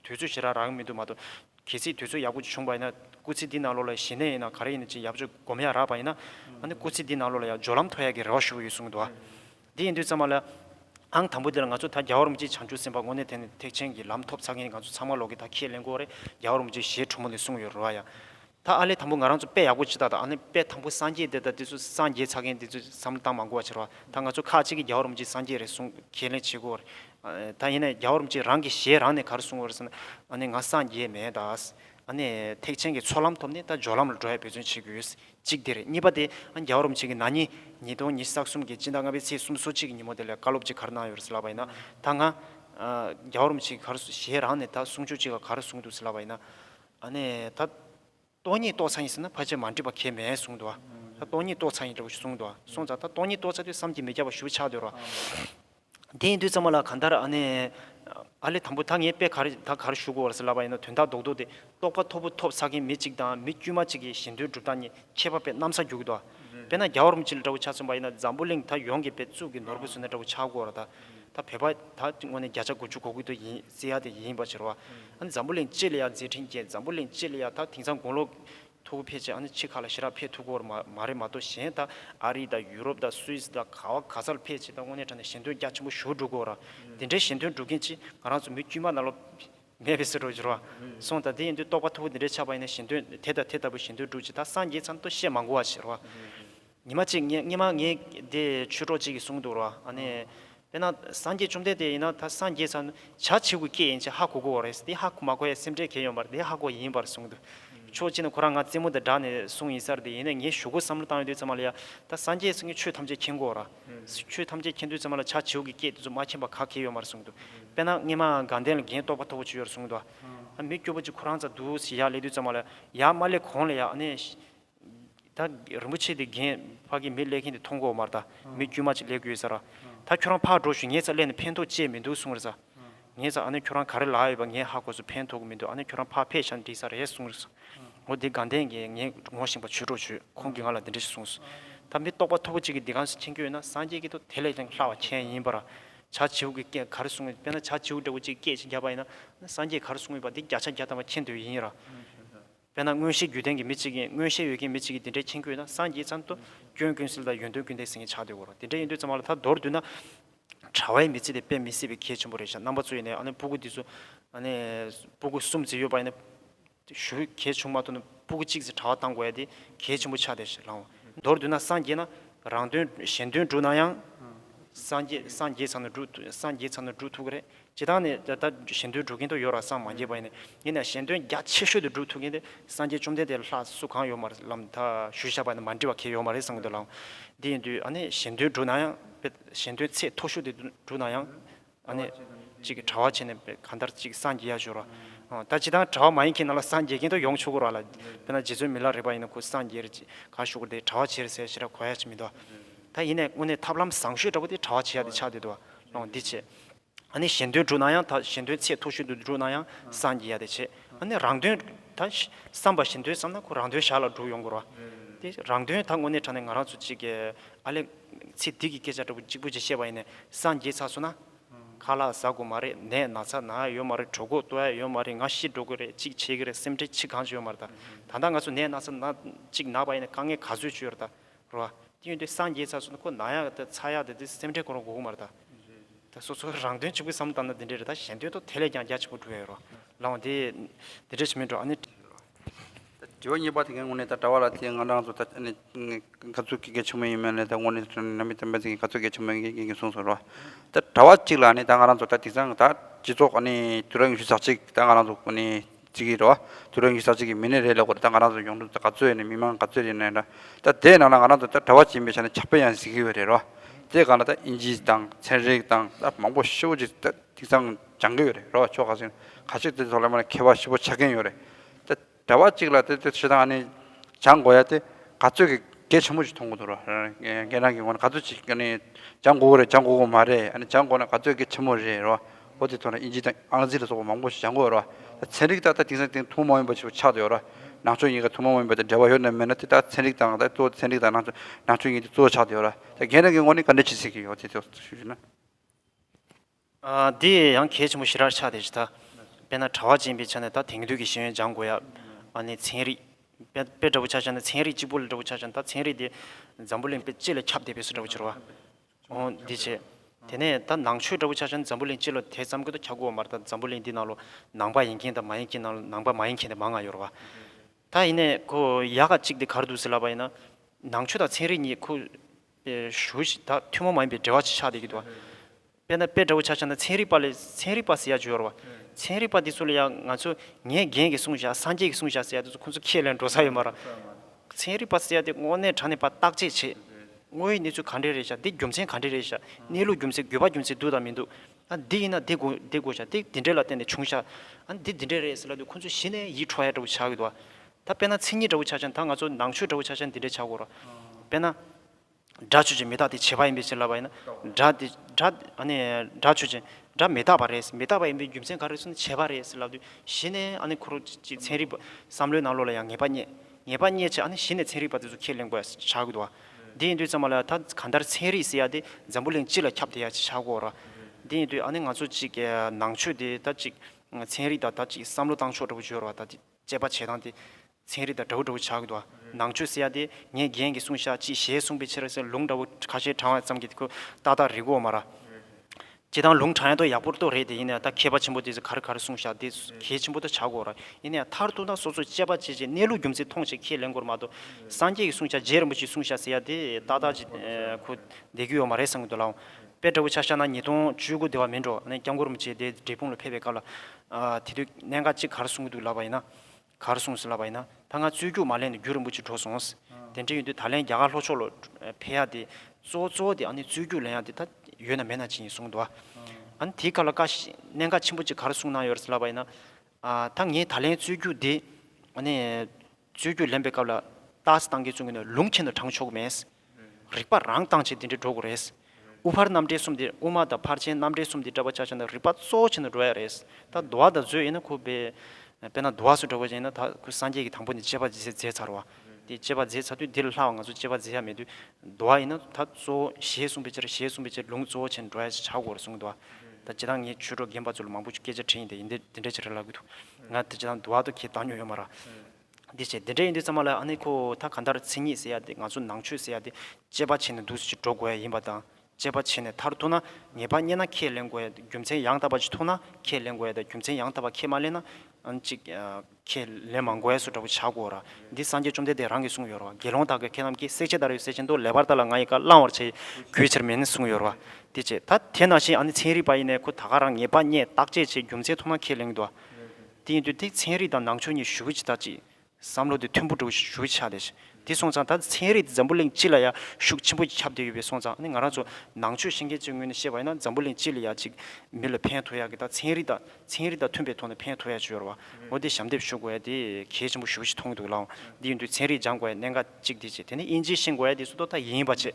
དུས་ཚོད་ཞེ་དྲག་རག་མི་འདུག་མ་གཏོགས་གལ་སྲིད་དུས་ཚོད་ཡག་པོ་ཅིག་བྱུང་བ་ཡིན་ན་སྐུ་ཚེ་འདི་ན་ལོག་ལས་ཞེ་ནས་ཡིན་ན་ག་རེ་ཡིན་ན་ཅིག་ཡག་ཅིག་སྒོམ་ཡག་རག་པ་ཡིན་ན་ཨ་ནི་སྐུ་ཚེ་འདི་ན་ལོག་ལ་ཡང་སྦྱོར་ལམ་ཐོ་ཡག་གི་རེ་བ་ཞུ་གི་ཡོད་གསུངས་འདུག་འདི་ཡིན་དུས་ཙམ་མ་ལ་ཨང་དང་པོ་འདི་ལ་ང་ཚོ་ད་རྒྱ་བོར་མི་གཅིག་བྱང་ཆུབ་སེམས་དཔའ་དངོས་གནས་དེ་ནི་ཐེག་ཆེན་གྱི་ལམ་ཐོབ་ཚར་མཁན་ནི་ང་ཚོ་ཚང་མ་ལོག་གི་ད་ཁས་ལེན་གོ་རེ་རྒྱ་བོར་མི་གཅིག་ཞེས་གྲོགས་མོ་ནས་གསུངས་ཡོད་རེ་བ་ཡང་ད་ཨ་ལས་དང་པོ་ང་རང་ཚོ་དཔེ་ཡག་པོ་ཇི་ལྟར་དང་ཨ་ལས་དཔེ་དང་པོ་སངས་རྒྱས་འདི་ལྟར་འདི་ཚོ་སངས་རྒྱས་ཚར་མཁན་འདི་ཚོ་བསམ་བློ་གཏང་མ་དགོ་བ་ཕྱིར་བ་ད་ང་ཚོ་ཁག་གཅིག་གིས་རྒྱ་བོར་མི་གཅིག་སངས་རྒྱས་རེད་གསུང་ཁས་ལེན་བྱེད་དགོ་རེད་ད་ཡིན་ནའི་རྒྱ་བོར་མི་གཅིག་རང་གི་ཞལ་རང་ནས་གར་གསུང་བར་བསམ་ཨ་ནས་ང་སངས་རྒྱས་མེད་ད་ཨ་ནས་ཐེག་ཆེན་གྱི་ཚོགས་ལམ་ཐོབ་ནས་ད་སྦྱོར་ལམ་ལ་འགྲོ་ཡ་བེད་བརྩོན་བྱེད་དགོས་གཅིག་དེ་རེད་གཉིས་པ་དེ་ཨ་རྒྱ་བོར་མི་གཅིག་གི་ན་ནིང་ཉིས་སྟོང་ཉི་ཤི་རྩ་གསུམ་གྱི་སྤྱི་ཟླ་ལྔ་པའི་ཚེས་གསུམ་སོ་གཅིག་གི་ཉིན་མོ་དེ་ལ་བཀའ་སློབ་གཅིག་གར་གནང་ཡོད་རེད་ཟེར་ལབ་པ་ཡིན་ན་ད་ང་རྒྱ་བོར་མི་གཅིག་གིས་གར་ཞལ་རང་ནས་ད་གསུང་ཆོས་གཅིག་ལ་གར་གསུང་འདུག་ཟེར་ལབ་པ་ཡིན་ན། ཨ་ནེ། ད། སྟོང་ཉིད་རྟོགས་ཚང་ཡིན་ཟེར་ན་ཕ་ཆེར་མ་འགྲིག་པ་ཁས་མེད་གསུངས་འདུག་ད་སྟོང་ཉིད་རྟོགས་ཚང་ཡིན་འདྲ་བོ་ཞིག་གསུངས་འདུག་སོང་ཙང་ད་སྟོང་ཉིད་རྟོགས་ཚང་དུས་བསམ་གྱིས་མི་ཁྱབ་པ་ཞུ་ཆགས་འདོད་རོ། དེ་ཡིན་དུས་ཙང་མ་ལ་གང་ལྟར་ཨ་ནེ། ཨ་ལེ་དང་པོ་ད་ངས་དཔེ་གར་ད་གར་ཞུ་དགོས་བ་ཟེར་ལབ་པ་ཡིན་ནོ་དོན་དག་རྡོག་རྡོག་དེ་རྟོགས་པ་མཐོ་པོ་ཐོབ་ཚགས་མཁན་མི་གཅིག་དང་མི་དཀྱུས་མ་གཅིག་གིས་བཞེད་འདོད་སྒྲུབ་སྟངས་གཉིས་ཁྱད་པར་དཔེ་གནམ་ས་རྒྱུགས་འདུག་དཔེ་ན་རྒྱ་བོར་མོ་ཅིལ་འདྲ་བོ་ཆགས་སོང་བ་ཡིན་ན་འཛམ་བུ་གླིང་ད་ཡོངས་ཀྱི་དཔེ་གཙུག་གི་ནོར་བུ་ཟོས་ན་འདྲ་བོ་ཆགས་དགོས་རོ་ད་ད་བོད་པ་ད་དངོས་ནས་བརྒྱ་ཆ་དགུ་བཅུ་གོ་དགོས་དོ་ཡིན་བརྩི་ཡ་དེ་ཡིན་པ་བྱེད་རོ། འཛམ་བུ་གླིང་སྤྱི་ལེ་ཡ་མཛད་འཕྲིན་རྒྱས་འཛམ་བུ་གླིང་སྤྱི་ལེ་ཡ་དག་དེང་སང་དགུང་ལོ། ཐུ་གུ་ཕལ་ཆེར་ཨ་ནི་ཆི་ཁ་ལ་ཤི་རག་ཕལ་ཐུ་གུ་བོར་མ་རེད་མ་གཏོགས་གཞན་དག་ཨ་རི་དང་ཡུ་རོབ་དང་སུའིས་དང་ག་བ་ག་ས་ལ་ཕལ་ཆེར་དག་དངོས་གནས་དྲ་ནས་གཞན་དོན་རྒྱ་ཆེན་པོ་ཞུ་འགྲོ་དགོས་ར་དེ་འདྲའི་གཞན་དོན་སྒྲུབ་མཁན་གཅིག་ང་རང་ཚོ་མི་དཀྱུས་མ་ན་ལོ། མེད་པའི་སྲིད་གྲོགས་ཀྱི་རོ། སོང་དང་དེ་ཡིན་དུས་རྟོགས་པ་ཐུ་བོ་དེ་འདྲའི་ཆགས་པ་ཡིན་ན་གཞན་དོན་དེ་དང་དེ་ལྟ་བུ་གཞན་དོན་སྒྲུབ་ཅིག་ད་སངས་རྒྱས་ཚང་ལྟོ་བཤད་མ་འགོ་བ་ཞིག་རོ། ཉི་མ་གཅིག་སྙེ་མ་ངས་དེ་ཆོས་གྲོགས་གཅིག་གིས་གསུངས་འདུག་ར་ཨ་ནས། དཔེར་ན་སངས་རྒྱས་བཅོམ་ལྡན་འདས་ཡིན་ན་ད་སངས་རྒྱས་ཚ་བྱ་ཆེ་གུ་སྐྱེས་ཡིན་ཕྱིར་ཧ་གོ་གོ་བ་རེད་དེ་ཧ་གོ་མ་གོ་ཡ་སེམས་ཁྲལ་གལ་ཡོང་པར་དེ་ཧ་གོ་ཡིན་པར་གསུངས་འདུག་ཕྱོགས་གཅིག་ནས་ཁོ་རང་ང་རྩེད་མོ་དང་སྦྲགས་ནས་གསུངས་ཡིན་སར་དེ་ཡིན་ན་ངས་ཞུ་གོ་བསམ་བློ་བཏང་ཡོད་དུས་ཚང་མ་ལ་ཡ་ད་སངས་རྒྱས་སངས་རྒྱས་ཆོས་ཐམས་ཅད་མཁྱེན་གོ་ར་ཆོས་ཐམས་ཅད་མཁྱེན་དུས་ཚང་མ་ལ་བྱ་བྱེའུ་གི་སྐད་དེ་ཚོ་མ་མཁྱེན་པ་ག་གེ་ཡོད་མར་གསུངས་འདུག་དཔེར་ན་སྔས་མ་དགའ་ལྡན་ལ་འགན་ལྟོགས་པ་མཐོ་པོ་བྱེད་ཡོར་གསུངས་འདུག་ཨ་མི་སྐྱོ་པོ་གཅིག་ཁོ་རང་ཚ་འདུག་ཞེས་ཡ་གླེད་དུས་ཚང་མ་ལ་ཡ་མ་གླེད་གོང་ལ་ཡ་ཨ་ནས། ད་རིན་པོ་ཆེ་དེ་རྒན་ཕ་གིས་མི་གླས་མཁན་དེ་མཐོང་གོ་མར་ད་མི་དཀྱུས་མ་ཅིག་གླས་དགོས་ཡོད་ས་ར། ད་ཁྱོད་རང་ཕར་འགྲོ་བཞུགས་ངས་ས་གླས་ནས་ཕན་ཐོག་ཅེས་མི་འདུག་གསུངས་རེད་ས། ངས་ས་ཨ་ནེ་ཁྱོད་རང་ག་རེ་ལགས་ཡོད་པ་ངས་ཧ་གོ་སོ་ཕན་ཐོག་གི་མི་འདུག་ཨ་ནེ་ཁྱོད་རང་ཕར་ཕེ་ཞབས་འདྲིས་ས་རེད་གསུངས་རེད་ས། ངོ་དེ་དགའ་ལྡན་གིས་ངས་ངོ་ཞིང་པ་བྱོས་འགྲོ་བྱོས་ཁོང་གིས་ང་ལ་འདི་འདྲ་ཞིག་གསུངས་སོ། ད་མི་རྟོག་པ་ཐོར་བུ་ཅིག་གིས་འདི་གང་ཞིག་མཁྱེན་རྒྱུ་ཡོད་ན་སངས་རྒྱས་ཀྱི་ཐོག་དེ་ལས་ཀྱང་ལྷག་བ་མཁྱེན་ཡིན་པ་ར། བྱ་བྱིའུ་གིས་སྐད་ག་རེ་གསུངས་ཡོད་དཔེར་ན་བྱ་བྱིའུ་འདྲ་བོ་ཅིག་སྐད་ཅིག་རྒྱག་པ་ཡིན་ན་ན་སངས་རྒྱས་ག་རེ་གསུངས་ཡོད་པ་དེ་བརྒྱ་ཆ་བརྒྱ་ལྟ་བ་མཁྱེན་འདོད་ཡིན་ར། དཔེར་ན་མངོན་ཤེས་རྒྱུད་ལྡན་གྱི་མི་གཅིག་གིས་མངོན་ཤེས་ཡོད་མཁན་མི་གཅིག་གིས་འདི་འདྲའི་མཁྱེན་རྒྱུད་དང་སངས་རྒྱས་ཙམ་དུ་སྐྱོན་ཀུན་སེལ་དང་ཡོན་ཏན་ཀུན་ལྡན་ཟིན་གྱི་ཆགས་འདོད་གོ་རོ་འདི་འདྲ་ཡིན་འདོད་ཙམ་མ་ལ་ད་མདོར་བསྡུས་ན། གྲྭ་བའི་མི་ཚེ་དེ་དཔེ་མི་སྲིད་པའི་གལ་ཆེན་པོ་རེད་བཞག་རྣམ་པ་གཙོ་ཡིན་ནའི་ཨ་ནི་སྤུ་གུ་འདི་ཚོ་ཨ་ནི་སྤུ་གུ་གསུམ་བརྩི་ཡོད་པ་ཡིན་ན། ཞུ་གལ་ཆུང་མ་ཐོབ་ན་སྤུ་གུ་གཅིག་བརྩི་གྲྭ་བ་བཏང་དགོས་ཡ་དེ་གལ་ཆེན་པོ་ཆགས་ཏེ་ལང་བ་མདོར་བསྡུས་ན་སངས་རྒྱས་ན་རང་དོན་གཞན་དོན་བསྒྲུབ་ན་ཡང། སངས་རྒྱས་སངས་རྒྱས་ཚང་ན་སྒྲུབ་སངས་རྒྱས་ཚང་ན་སྒྲུབ་ཐུབ་ཀྱི་རེད་བྱེད་སྟངས་ནི་ད་ལྟ་གཞན་དོན་སྒྲུབ་ཀྱིན་དུ་ཡོད་ར་བསམ་མ་བགྱིད་པ་ཡིན། ཡིན་ན་གཞན་དོན་རྒྱ་ཆེ་ཤོས་དེ་སྒྲུབ་ཐུབ་མཁན་དེ་སངས་རྒྱས་བཅོམ་ལྡན་འདས་ལ་ལྷག་སུ་གང་ཡོད་མ་རེད་ལམ་ད་ཞུ་བཞག་པ་ནི་མ་འདྲི་བ་ཁེ་ཡོད་མ་རེད་བསམ་གྱི་འདུག་ལགས། དེ་ཡིན་དུས་ཨ་ནི་གཞན་དོན་སྒྲུབ་ན་ཡང་དཔེ་གཞན་དོན་ཚད་མཐོ་ཤོས་དེ་སྒྲུབ་ན་ཡང་ཨ་ནི་ཅིག་གྲྭ་བ་བྱས་ནས་དཔེ་གང་ལྟར་ཅིག་སངས་རྒྱས་ཡ་ཞུ་ར། ད་བྱེད་སྟངས་གྲྭ་བ་མ་ཡིན་མཁན་ན་ལ་སངས་རྒྱས་མཁན་དུ་ཡོང་ཆོག་གོ་ར་ལ། དཔེ་ན་རྗེ་བཙུན་མི་ལ་རས་པ་ཡིན་ན་ཁོ་སངས་རྒྱས་རེད་ཅིག་ག་ཞུ་གོ་དེ་གྲྭ་བ་བྱས་རེད་ཟེར་ཤི་ར་གོ་ཡ་ཅིག་མི་འདུག་ཨ། ད་ཡིན་ནས་དངོས་གནས་ཐབས་ལམ་བཟང་ཤོས་འདྲ་པོ་དེ་གྲྭ་བ་བྱས་ཡ་དེ་ཆགས་བསྡད་འདུག་ཨ། ལོང་འདི་བྱས། ཨ་ནི་གཞན་དོན་བསྒྲུབ་ན་ཡང་དག་གཞན་དོན་ཚད་ཐུག་ཤོས་དུ་བསྒྲུབ་ན་ཡང་སངས་རྒྱས་ཡ་དེ་བྱས་ཨ་ནི་རང་དོན་ད་བསམ་པ་གཞན་དོན་བསམ་ན་ཁོ་རང་དོན་བཞག་ལ་འགྲུག་ཡོང་དགོས་རོ། དེ་རང་དོན་ད་དངོས་གནས་དྲང་ནས་ང་རང་ཚོ་གཅིག་གི་ཨ་ལེ་ཚེ་སྡིག་གི་སྐད་ཆ་འདྲ་པོ་གཅིག་པོ་ཅིག་བཤད་པ་ཡིན་ནས་སངས་རྒྱས་ཚར་སོང་ན། ཁ་ལག་ཟ་དགོས་མ་རེད་ནད་ན་ཚ་ན་ཡ་ཡོད་མ་རེད་གྲོད་ཁོག་ལྟོ་ཡ་ཡོད་མ་རེད་ང་ཤི་འགྲོ་གི་རེད་ཅིག་བྱེད་གི་རེད་སེམས་ཁྲལ་ཅིག་གང་བྱས་ཡོད་མ་རེད་ད། ད་ལྟ་ང་ཚོ་ནད་ན་ཚ་ན་ཅིག་ན་པ་ཡིན་ནས་དཀའ་ངལ་ག་ཚོད་བྱུས་ཡོད་རེད་ད། རོ། ཀྱིན་ཏེ་སངས་རྒྱས་ཚར་སོང་ཁོ་ན་ཡག་ཏེ་ཚ་ཡག་དེ་དེ་སེམས་ཁྲལ་གོ་རོ་གོ་གོ་མ་རེ་ད། ད་སོ་སོ་རང་དོན་ཆེན་པོའི་བསམ་བློ་བཏང་ན་དེ་འདྲས་རེ་ད་གཞན་དོན་ཐོག་དེ་ལས་ཀྱང་རྒྱ་ཆེན་པོ་འགྲོ་ཡ་ཡོད་རོ་ལང་བ་དེ། དེ་འདྲས་བྱེད་མི་འགྲོ་ཨ་ནི། དྲི་བ་གཉིས་པ་དེ་གའི་ངོ་ནས་ད་གྲྭ་བ་ལ་དེ་ང་རང་ཚོ་ད་ཨ་ནི། ག་ཚོད་ཀྱི་གས་ཆོ་མེད་ཡིན་མེད་ལས་ད་ངོ་ནས་ཚོ་ནི་ནང་མི་དམ་པ་དེ་ག་ཚོད་གས་ཆོ་མེད་ཡིན་གྱིན་གསུངས་སོ་རོ། ད་གྲྭ་བ་གཅིག་ལ་ནི་ད་ང་རང་ཚོ་ད་དེ་སང་ད་སྤྱི་ཚོགས་ཨ་ནི་དུས་ར་ངེས་ཤུལ་ཟག་ཅིག་ད་ང་རང་ཚོ་ཨ་ནི། གཅིག་གིས་རེད། དུས་རང་གི་ས་ཚིགས་ཀྱི་མི་སྣས་རེད་ལབ་གོ་ད་ང་རང་ཚོ་ཡོངས་གྲུབ་དང་ག་ཚོད་ཡོད་ནས་མི་མང་ག་ཚོད་ཡོད་ནས་རེད། ད་དེའི་ནང་ལ་ང་རང་ཚོ་ད་གྲྭ་བ་བྱིན་པའི་ཆ་ནས་ཕྱག་དཔེ་ཡང་གཟིགས་ཀྱི་ཡོད་རེད། དེ་ག་ལ་ད་ཨིན་ཇི་དང་ཚན་རིག་དང་ད་མང་པོ་ཧྲིལ་བོ་ཅིག་ད་དེང་སང་སྦྱང་གི་ཡོད་རེད་རོ་ཆོག་ག་ཚོད་ཡིན་ག་ཚོད་དེ་ཐོག་ལ་མ་ལ་མཁས་པ་ཧྲིལ་བོ་ཆགས་ཀྱིན་ཡོད་རེད། ད་གྲྭ་བ་གཅིག་ལ་དེ་དེ་ཞེ་སྡང་ཨ་ནི་སྦྱང་དགོ་ཡ་དེ་ག་ཚོད་ཀྱི་གལ་ཆེན་པོ་ཅིག་མཐོང་གི་འདུག་རོ། ཁྱེད་རང་གི་ངོ་ནས་ག་ཚོད་ཅིག་ཨ་ནི་སྦྱང་དགོ་གི་རེད་སྦྱང་དགོ་གི་མ་རེད་ཨ་ནི་སྦྱང་དགོ་ན་ག་ཚོད་གལ་ཆེན་པོ་རེད་རོ། པོ་དེ་ཐོག་ནས་དབྱིན་ཇི་དང་ཨང་རྩིས་ལ་སོགས་པ་མང་པོ་ཞིག་བྱ་འགོ་ཡོད་ར། ཚན་རིག་ཏག་ཏག་དེང་སང་དེང་ཐུང་མ་ཡིན་པ་ཞིག་ཏུ་ཆགས་བསྡད་ཡོད་ར། ནང་ཆོས་གཉིས་ཀ་ཐུང་མ་མ་ཡིན་པ་དེ་འབྲེལ་བ་ཡོད་ནི་མེད་ན་དེ་དག་ཚན་རིག་དང་ལྟ་གཙོ་ཚན་རིག་དང་ནང་ཆོས་གཉིས་དེ་གཙོ་བོ་ཆགས་བསྡད་ཡོད་ར། དེ་རྒན་རང་གི་ངོ་ནས་ག་འདྲས་བྱེད་སྲིད་ཀྱི་ཡོད་དེ་ཐོག་ཞུ་རྒྱུ་ན། འདི་ཡང་གལ་ཆེན་པོ་ཞིག་ར་ཆགས་བསྡད་ཅི་ད། དཔེར་ན་གྲྭ་བ་ཅན་པའི་ཆ་ནས་ད་དེང་དུས་ཀྱི་ཤེས་ཡོན་སྦྱང་དགོ་ཡ། ཨ་ནི་ཚན་རིག། དཔེ་དཔེ་འདྲ་པོ་ཆགས་ཤག་ན་ཚན་རིག་གཅིག་པོ་ལས་འདྲ་པོ་ཆགས་ཤག་ན་ད་ཚན་རིག་དེ། འཛམ་བུ་གླིང་དཔེ་ཅི་ལ་ཁྱབ་བསྡད་པས་སུ་འདྲ་པོ་འགྱུར་བ། འོང། འདི་བྱེད། དེ་ནས་ད་ནང་ཆོས་འདྲ་པོ་ཆ་ཆ་ནི་འཛམ་བུ་གླིང་སྤྱི་ལོ་དེ་ཙམ་གྱི་ཐོག་འཁྱག་གོ་བ་མ་རེད་ད་འཛམ་བུ་གླིང་འདི་ནང་ལོ་ནང་པ་ཡིན་མཁན་དང་མ་ཡིན་མཁན་ནང་ལོ་ནང་པ་མ་ཡིན་མཁན་དེ་མ་ང་ཡོར་བ། ད་ཡིན་ནས་ཁོ་ཡག་ག་གཅིག་དེ་གར་འདུག་ཟེར་ལབ་པ་ཡིན་ན། ནང་ཆོས་དང་ཚན་རིག་གཉིས་ཁུ། ཞུ་བཞི་ད་ཐུན་མོང་མ་ཡིན་པའི་འབྲེལ་བ་ཆགས་བསྡད་ཀྱི་འདུག་བ། དཔེ་ན་དཔེ་འདྲ་པོ་ཆ་ཆ་ན་ཚན་རིག་པ་ལས་ཚན་རིག་པ་ཟེར་ཡ་བརྗོད་ཡོར་བ། ཚན་རིག་པ་འདི་ཚོ་ལ་ཡང་ང་ཚོ་ངས་རྒན་གྱིས་གསུངས་བཞག་སངས་རྒྱས་ཀྱིས་གསུངས་བཞག་ཟེར་ཡ་འདི་ཚོ་ཁོང་ཚོ་ཁས་ལེན་འགྲོ་ས་ཡོད་མ་ར། ཚན་རིག་པ་བསལ་ཏེ་དངོས་གནས་དྲང་གནས་པར་བརྟག་དཔྱད་བྱས། དངོས་ཡོད་གནས་ཚུལ་ག་འདྲའི་རེད་བྱ་འདི་རྒྱུ་མཚན་ག་འདྲའི་རེད་བྱ་གནས་ལུགས་རྒྱུ་མཚན་དགོས་པ་རྒྱུ་མཚན་འདུག་དང་མི་འདུག་ཨ་འདི་ཡིན་ན་འདི་དགོས་འདི་དགོས་བྱ་དེ་འདི་འདྲས་ལ་བརྟེན་ནས་བྱུང་བྱ་ཨ་འདི་འདི་འདྲས་རེད་ཟེར་ལབ་དུས་ཁོ་ཚོས་གཞི་ནས་ཡིད་འཕྲོག་ཡ་འདྲ་བོ་ཆགས་ཡོད་དོ། ད་དཔེར་ན་མཚན་ཉིད་འདྲ་བོ་ཆགས་ཆ་ད་ང་ཚོ་ནང་ཆོས་འདྲ་བོ་ཆགས་ཆ་འདི་འདྲས་ཆགས་དགོས་རོ། དཔེར་ན། སྒྲ་ཆོས་ཀྱི་མི་རྟག་དེ་བྱེད་པ་ཡིན་པའི་ཕྱིར་ལ་བ་ཡིན་ན། སྒྲ་དེ་སྒྲ་ནི་སྒྲ་ཆོས་ཅན། སྒྲ་མི་རྟག་པ་རེད། མི་རྟག་པ་ཡིན་པའི་རྒྱུ་མཚན་ག་རེ་ཟུང་བྱེད་པ་རེད་ལབ་དུས་གཞི་ནས་ཨ་ནི་ཁོ་རོ་ཅིག་ཚན་རིག་པ་བསམ་བློའི་ནང་ལོགས་ལ་ཡང་ངེས་པ་རྙེད། ངེས་པ་རྙེད་ཆེད་ཨ་ནི་གཞི་ནས་ཚན་རིག་པ་དེ་ཚོ་ཁས་ལེན་དགོས་ཡ་ཆགས་དགོས་དུ་བ། དེ་ཡིན་དུས་ཙམ་མ་ལ་ད་གང་ལྟར་ཚན་རིག་ཟེར་ཡ་དེ་འཛམ་བུ་གླིང་སྤྱི་ལ་ཁྱབ་དེ་ཡ་ཆགས་དགོས་ར། དེ་ཡིན་དུས་ཨ་ནི་ང་ཚོ་ཅིག་ནང་ཆོས་དེ་ད་ཅིག་ཚན་རིག་དང་ད་ཅིག་བསམ་བློ་བཏང་ཕྱོགས་འདྲ་པོ་བརྗོད་ར་བ་ད་དེ་དཔྱད་པ་བྱེད་སྟངས་དེ་ཚན་རིག་དང་འདྲ་བོ་འདྲ་བོ་བྱ་དགོས་འདུག་ནང་ཆོས་སེ་ཡ་དེ་ངས་རྒན་གྱིས་གསུངས་ཤག་ཅིག་ཞེས་གསུངས་པའི་ཕྱིར་ཟེར་ལུང་འདྲ་བོ་ཁ་ཤས་དྲངས་བ་ཙམ་གྱིས་ཁོས་ཏག་ཏག་རིག་གོ་མ་ར། ཅི་སྟངས་ལུང་དྲངས་ཡག་ཏོ་ཡག་པོ་ཏོ་རེད་དེ་ཡིན་ན་ཡང་ད་མཁས་པ་ཆེན་པོ་དེ་ཚོས་ག་རེ་ག་རེ་གསུངས་ཤག་དེ་གལ་ཆེན་པོ་ཏོ་བྱ་དགོས་ར་ཡིན་ན་ཡང་མཐར་ཐུག་ན་སོ་སོས་དཔྱད་པ་བྱས་རྗེས་གནས་ལུགས་རྒྱུ་མཚན་མཐོང་ཞེས་ཁས་ལེན་དགོས་ར་མ་གཏོགས་སངས་རྒྱས་ཀྱིས་གསུངས་ཤག་རྗེ་རིན་པོ་ཆེས་གསུངས་ཤག་ཟེར་ཡ་དེ་ཏག་ཏག་ཅིག་ཁོས་བསྡད་རྒྱུ་ཡོད་མ་རེད་བསམ་གྱི་འདུག་ལའང། དཔེ་འདྲ་བོ་ཆགས་ཤག་ན་ཉིས་སྟོང་བཅུ་དགུ་དེ་བ་མིན་འགྲོ་ནས་སྐྱབས་མགོན་རིན་པོ་ཆེ་དེ་འབྲས་སྤུངས་ལ་ཕེབས་པའི་སྐབས་ལ། དེ་དུས་གནད་འགག་ཅིག་ག་རེ་གསུངས་གི་འདུག་ལབ་པ་ཡིན་ན། གར་སོང་ཟེར་ལབ་པ་ཡིན་ན་ད་ང་རྩོད་རྒྱུགས་མ་ལེན་ནས་རྒྱུ་རིན་པོ་ཆེ་འགྲོ་སོང། དེ་འདྲ་ཡོད་དུས་ད་ལན་རྒྱ་གར་ལྷོ་ཕྱོགས་ལོ་ཕེ་ཡག་དེ་གཙོ་བོ་གཙོ་བོ་དེ་ཨ་ནི་རྩོད་རྒྱུགས་ལེན་ཡག་དེ་ད་ཡོད་ན་མེད་ན་ཅི་ཡིན་གསུངས་འདུག་ཨ་ནི་དེའི་ཁ་ལ་བཀའ་གནད་འགག་ཆེན་པོ་གཅིག་གར་སོང་ན་ཡོད་རེད་ལབ་པ་ཡིན་ན། ད་ངས་ད་ལན་རྩོད་རྒྱུགས་དེ་ཨ་ནི་རྩོད་རྒྱུགས་ལེན་པའི་སྐབས་ལ་སྟག་གཟིག་སྟང་གིས་གཙོས་ངོས་ནས་ལུང་ཁྱེར་དུ་དྲངས་ཆོག་གི་མེད། རིག་པ་རང་གཏང་བྱེད་འདི་འདྲས་འགྲོ་དགོས་རེད། དབུ་ཕར་རྣམ་འགྲེལ་གསུམ་འདི་དབུ་མ་དང་ཕར་ཕྱིན་རྣམ་འགྲེལ་གསུམ་འདི་འདྲ་བ་ཆགས་ཆགས་ན་རིག་པ་གཙོ་བོ་ཆེ་ན་འགྲོ་ཡ་རེད། ད་འདུ་བ་དང་བཟོད་ཡིན་ན་ཁུ་བེ། དཔེར་ན་འདུ་བ་སུ་འདྲ་བོ་ཅིག་ཡིན་ན་ད་ཁུ་སངས་རྒྱས་ཀྱི་དང་པོ་ནས་དཔྱད་པ་མཛད་ཚར་བ། དེ་དཔྱད་པ་མཛད་ཚར་དུས་འདི་ལ་ལྷག་བ་ང་ཚོ་དཔྱད་པ་མཛད་ཡ་མེད་དུས། འདུ་བ་ཡིན་ན་ད་གཙོ་བོ་ཞེས་གསུངས་པའི་ཕྱིར་ཞེས་གསུངས་པའི་ཕྱིར་ལུང་གཙོ་བོ་ཆེ་ན་འགྲོ་ཡ་ཞེས་བྱ་དགོས་རེད་གསུངས་གི་འདུག་ད་ཇི་ལྟར་ངས་ཆོས་གྲོགས་རྒན་པ་ཚོ་ལ་མང་པོ་སྐད་ཆ་དྲིས་ཡིན་དེ་འདི་འདྲས་ཅིག་རེ་ལབ་ཀྱི་འདུག་ང་དེ་ཇི་ལྟར་འདུ་བ་དང་ཁྱེད་བཏང་མྱོང་ཡོད་མ་ར། འདི་བྱས་དེ་འདྲས་ཡིན་དུས་ཚང་མ་ལ་ཨ་ནི་ཁོ་ད་ག་འདར་ཚིག་ཉིད་ཟེར་ཡ་དེ་ང་ཚོ་ནང་ཆོས་ཟེར་ཡ་དེ་དཔྱད་པ་བྱས་ནས་འདུག་ཅིག་འགྲོ་དགོས་ཡ་ཡིན་པ་དང་དཔྱད་པ་བྱས་ནས་མཐར་ཐུག་ན་ངེས་པ་རྙེད་ན་ཁས་ལེན་དགོས་ཡ་རྒྱུ་མཚན་ཡང་དག་པ་ཅིག་ཐུག་ན་ཁས་ལེན་དགོས་ཡ་དང་རྒྱུ་མཚན་ཡང་དག་པ་ཁས་མ་ལེན་ན་ཅིག་ཁས་ལེན་མ་དགོས་ཡ་སོ་འདྲ་པོ་བྱ་དགོས་ར་འདི་སངས་རྒྱས་བཅོམ་ལྡན་འདས་རང་གིས་གསུངས་ཡོད་ར་དགེ་སློང་དག་གིས་ཁྱེད་རྣམས་ཀྱིས་བསྲེག་བྱེད་ལྟར་ཡོད་ཟེར་བྱེད་མདོ་ལེ་བར་དག་ལ་ང་ཡི་ག་བླང་བར་བྱའི་གུས་ཕྱིར་མིན་གསུངས་ཡོད་ར་འདི་བྱས་ད་དེ་ནང་བཞིན་ཨ་ནི་ཚན་རིག་པ་ཡིན་ནས་ཁོ་ད་ག་རང་ངེས་པ་རྙེད་བརྟག་དཔྱད་བྱས་རྒྱུ་མཚན་ཐུག་ན་ཁས་ལེན་གདོ་ཡ། དེ་ཡིན་དུས་དེ་ཚན་རིག་དང་ནང་ཆོས་གཉིས་ཞུ་བའི་ཆེད་དག་ཅིག་བསམ་བློ་དེ་མཐོན་པོ་འགྲོ་བའི་ཞུ་བའི་ཆ་ལས། དེ་སོང་ཙང་ད་ཚན་རིག་དེ་འཛམ་བུ་གླིང་སྤྱི་ལ་ཡ་ཤུགས་ཆེན་པོ་ཁྱབ་བསྡད་ཡོད་པས་སོང་ཙང་ནི་ང་རང་ཚོ་ནང་ཆོས་ཤེས་མཁན་གྱི་ངོས་ནས་བཤད་པ་ཡིན་ན་འཛམ་བུ་གླིང་སྤྱི་ལ་ཡ་ཅིག་མི་ལ་ཕན་ཐོགས་ཡ་གི་ད་ཚན་རིག་དང་ཚན་རིག་དང་མཐུན་པའི་ཐོག་ནས་ཕན་ཐོགས་ཡ་ཅིག་ཡོད་རེད་བ་འོ་དེ་ཞབས་འདེབས་ཞུ་དགོས་ཡ་དེ་གལ་ཆེན་པོ་ཞུ་བ་ཞིག་མཐོང་གི་འདུག་ལགས་འོང་དེ་ཡིན་དུས་ཚན་རིག་སྦྱང་དགོས་ཡ་གནད་འགག་ཅིག་དེ་བྱས་དེ་ནི་དབྱིན་ཇི་ཤེས་དགོས་ཡ་དེ་སུ་ཐོག་ད་ཡིན་པ་བྱས་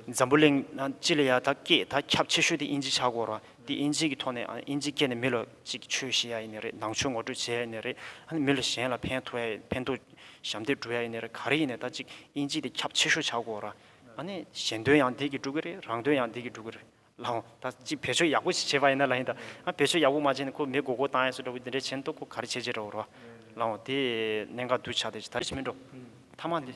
འཛམ་བུ་གླིང་སྤྱི་ལ་ཡ་ད་སྐད་ད་ཁྱབ་ཆེ་ཤོས་དེ་དབྱིན་ཇི་ཆགས་དགོས་རེད་བ། འདི་དབྱིན་ཇི་གི་ཐོག་ནས་དབྱིན་ཇི་སྐད་ནི་མི་ལ་ཅིག་ཆོས་ཤེས་ཡ་ཡི་ནི་རེད་ནང་ཆོས་ངོ་སྤྲོད་བྱེད་ཡ་ཡི་ནི་རེད་ཨ་ནི་མི་ལ་གཞན་ལ་ཕན་ཐོག་ཡ་ཡི་ཕན་ཐོག་ཞབས་འདེགས་སྒྲུབ་ཡ་ཡི་ནི་རེད་ག་རེ་ཡིན་ནས་ད་ཅིག་དབྱིན་ཇི་དེ་ཁྱབ་ཆེ་ཤོས་བྱ་དགོས་ར་ཨ་ནི་གཞན་དོན་ཡང་འདི་གི་སྒྲུབ་གི་རེད་རང་དོན་ཡང་འདི་གི་སྒྲུབ་གི་རེད་ལ་འོང་ད་ཅིག་བེད་སྤྱོད་ཡག་པོ་བྱེད་པ་ཡིན་ན་ལ་ཡིན་ད་ཨ་བེད་སྤྱོད་ཡག་པོ་མ་བྱས་ནི་ཁོ་མི་མགོ་སྐོར་བཏང་ཡ་སུ་འདྲ་བོ་འདི་འདྲ་བྱས་ནི་ཏོག་ཁོ་ག་རེ་བྱས་བྱས་འདྲ་བོ་ར་ལ་འོང་དེ་གནད་འགག་གདུལ་བྱ་དེ་ད་རེ་བྱེད་མི་འགྲོ་མཐའ་མ་འདི།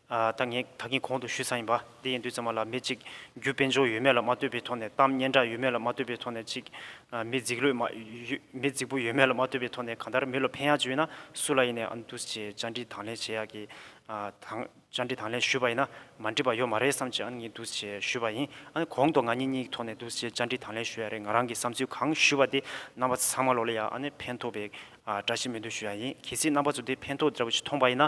ད་ངས་ད་གིན་གོང་དུ་ཞུས་ཚར་ཡིན་པ་འདི་ཡིན་དུས་ཚང་མ་ལ་མི་གཅིག་རྒྱུ་དཔེ་འཇོག་ཡོད་མེད་ལ་མ་ལྟོས་པའི་ཐོག་ནས་གཏམ་སྙན་གྲགས་ཡོད་མེད་ལ་མ་ལྟོས་པའི་ཐོག་ནས་གཅིག་མི་རྫིག་ལོས་མ་མི་རྫིག་པོ་ཡོད་མེད་ལ་མ་ལྟོས་པའི་ཐོག་ནས་གང་ལྟར་མི་ལ་ཕན་ཡག་བྱུས་ཡོད་ན་སུ་ལ་ཡིན་ནས་ཨ་འདུས་ཀྱིས་བཅར་འདྲི་དང་ལེན་བྱེད་ཡག་གི་དང་བཅར་འདྲི་དང་ལེན་ཞུས་པ་ཡིན་ན་མ་འདྲི་བ་ཡོད་མ་རེད་བསམ་ཀྱིས་ཨ་ངས་འདུས་ཀྱིས་ཞུས་པ་ཡིན་ཨ་ནི་གོང་དུ་ང་གཉིས་གཉིས་ཀྱི་ཐོག་ནས་འདུས་ཀྱིས་བཅར་འདྲི་དང་ལེན་ཞུས་ཡག་རེད་ང་རང་གིས་བསམ་ཚུལ་གང་ཞུས་པ་དེ་རྣམ་པ་ཚང་མ་ལོག་ལེ་ཡག་ཨ་ནི་ཕན་ཐོག་པའི་བཀྲ་ཤིས་སྨོན་འདུན་ཞུས་ཡག་ཡིན་གལ་སྲིད་རྣམ་པ་ཚོ་དེ་ཕན་ཐོག་འདྲ་བོ་ཞིག་མཐོང་པ་ཡིན་ན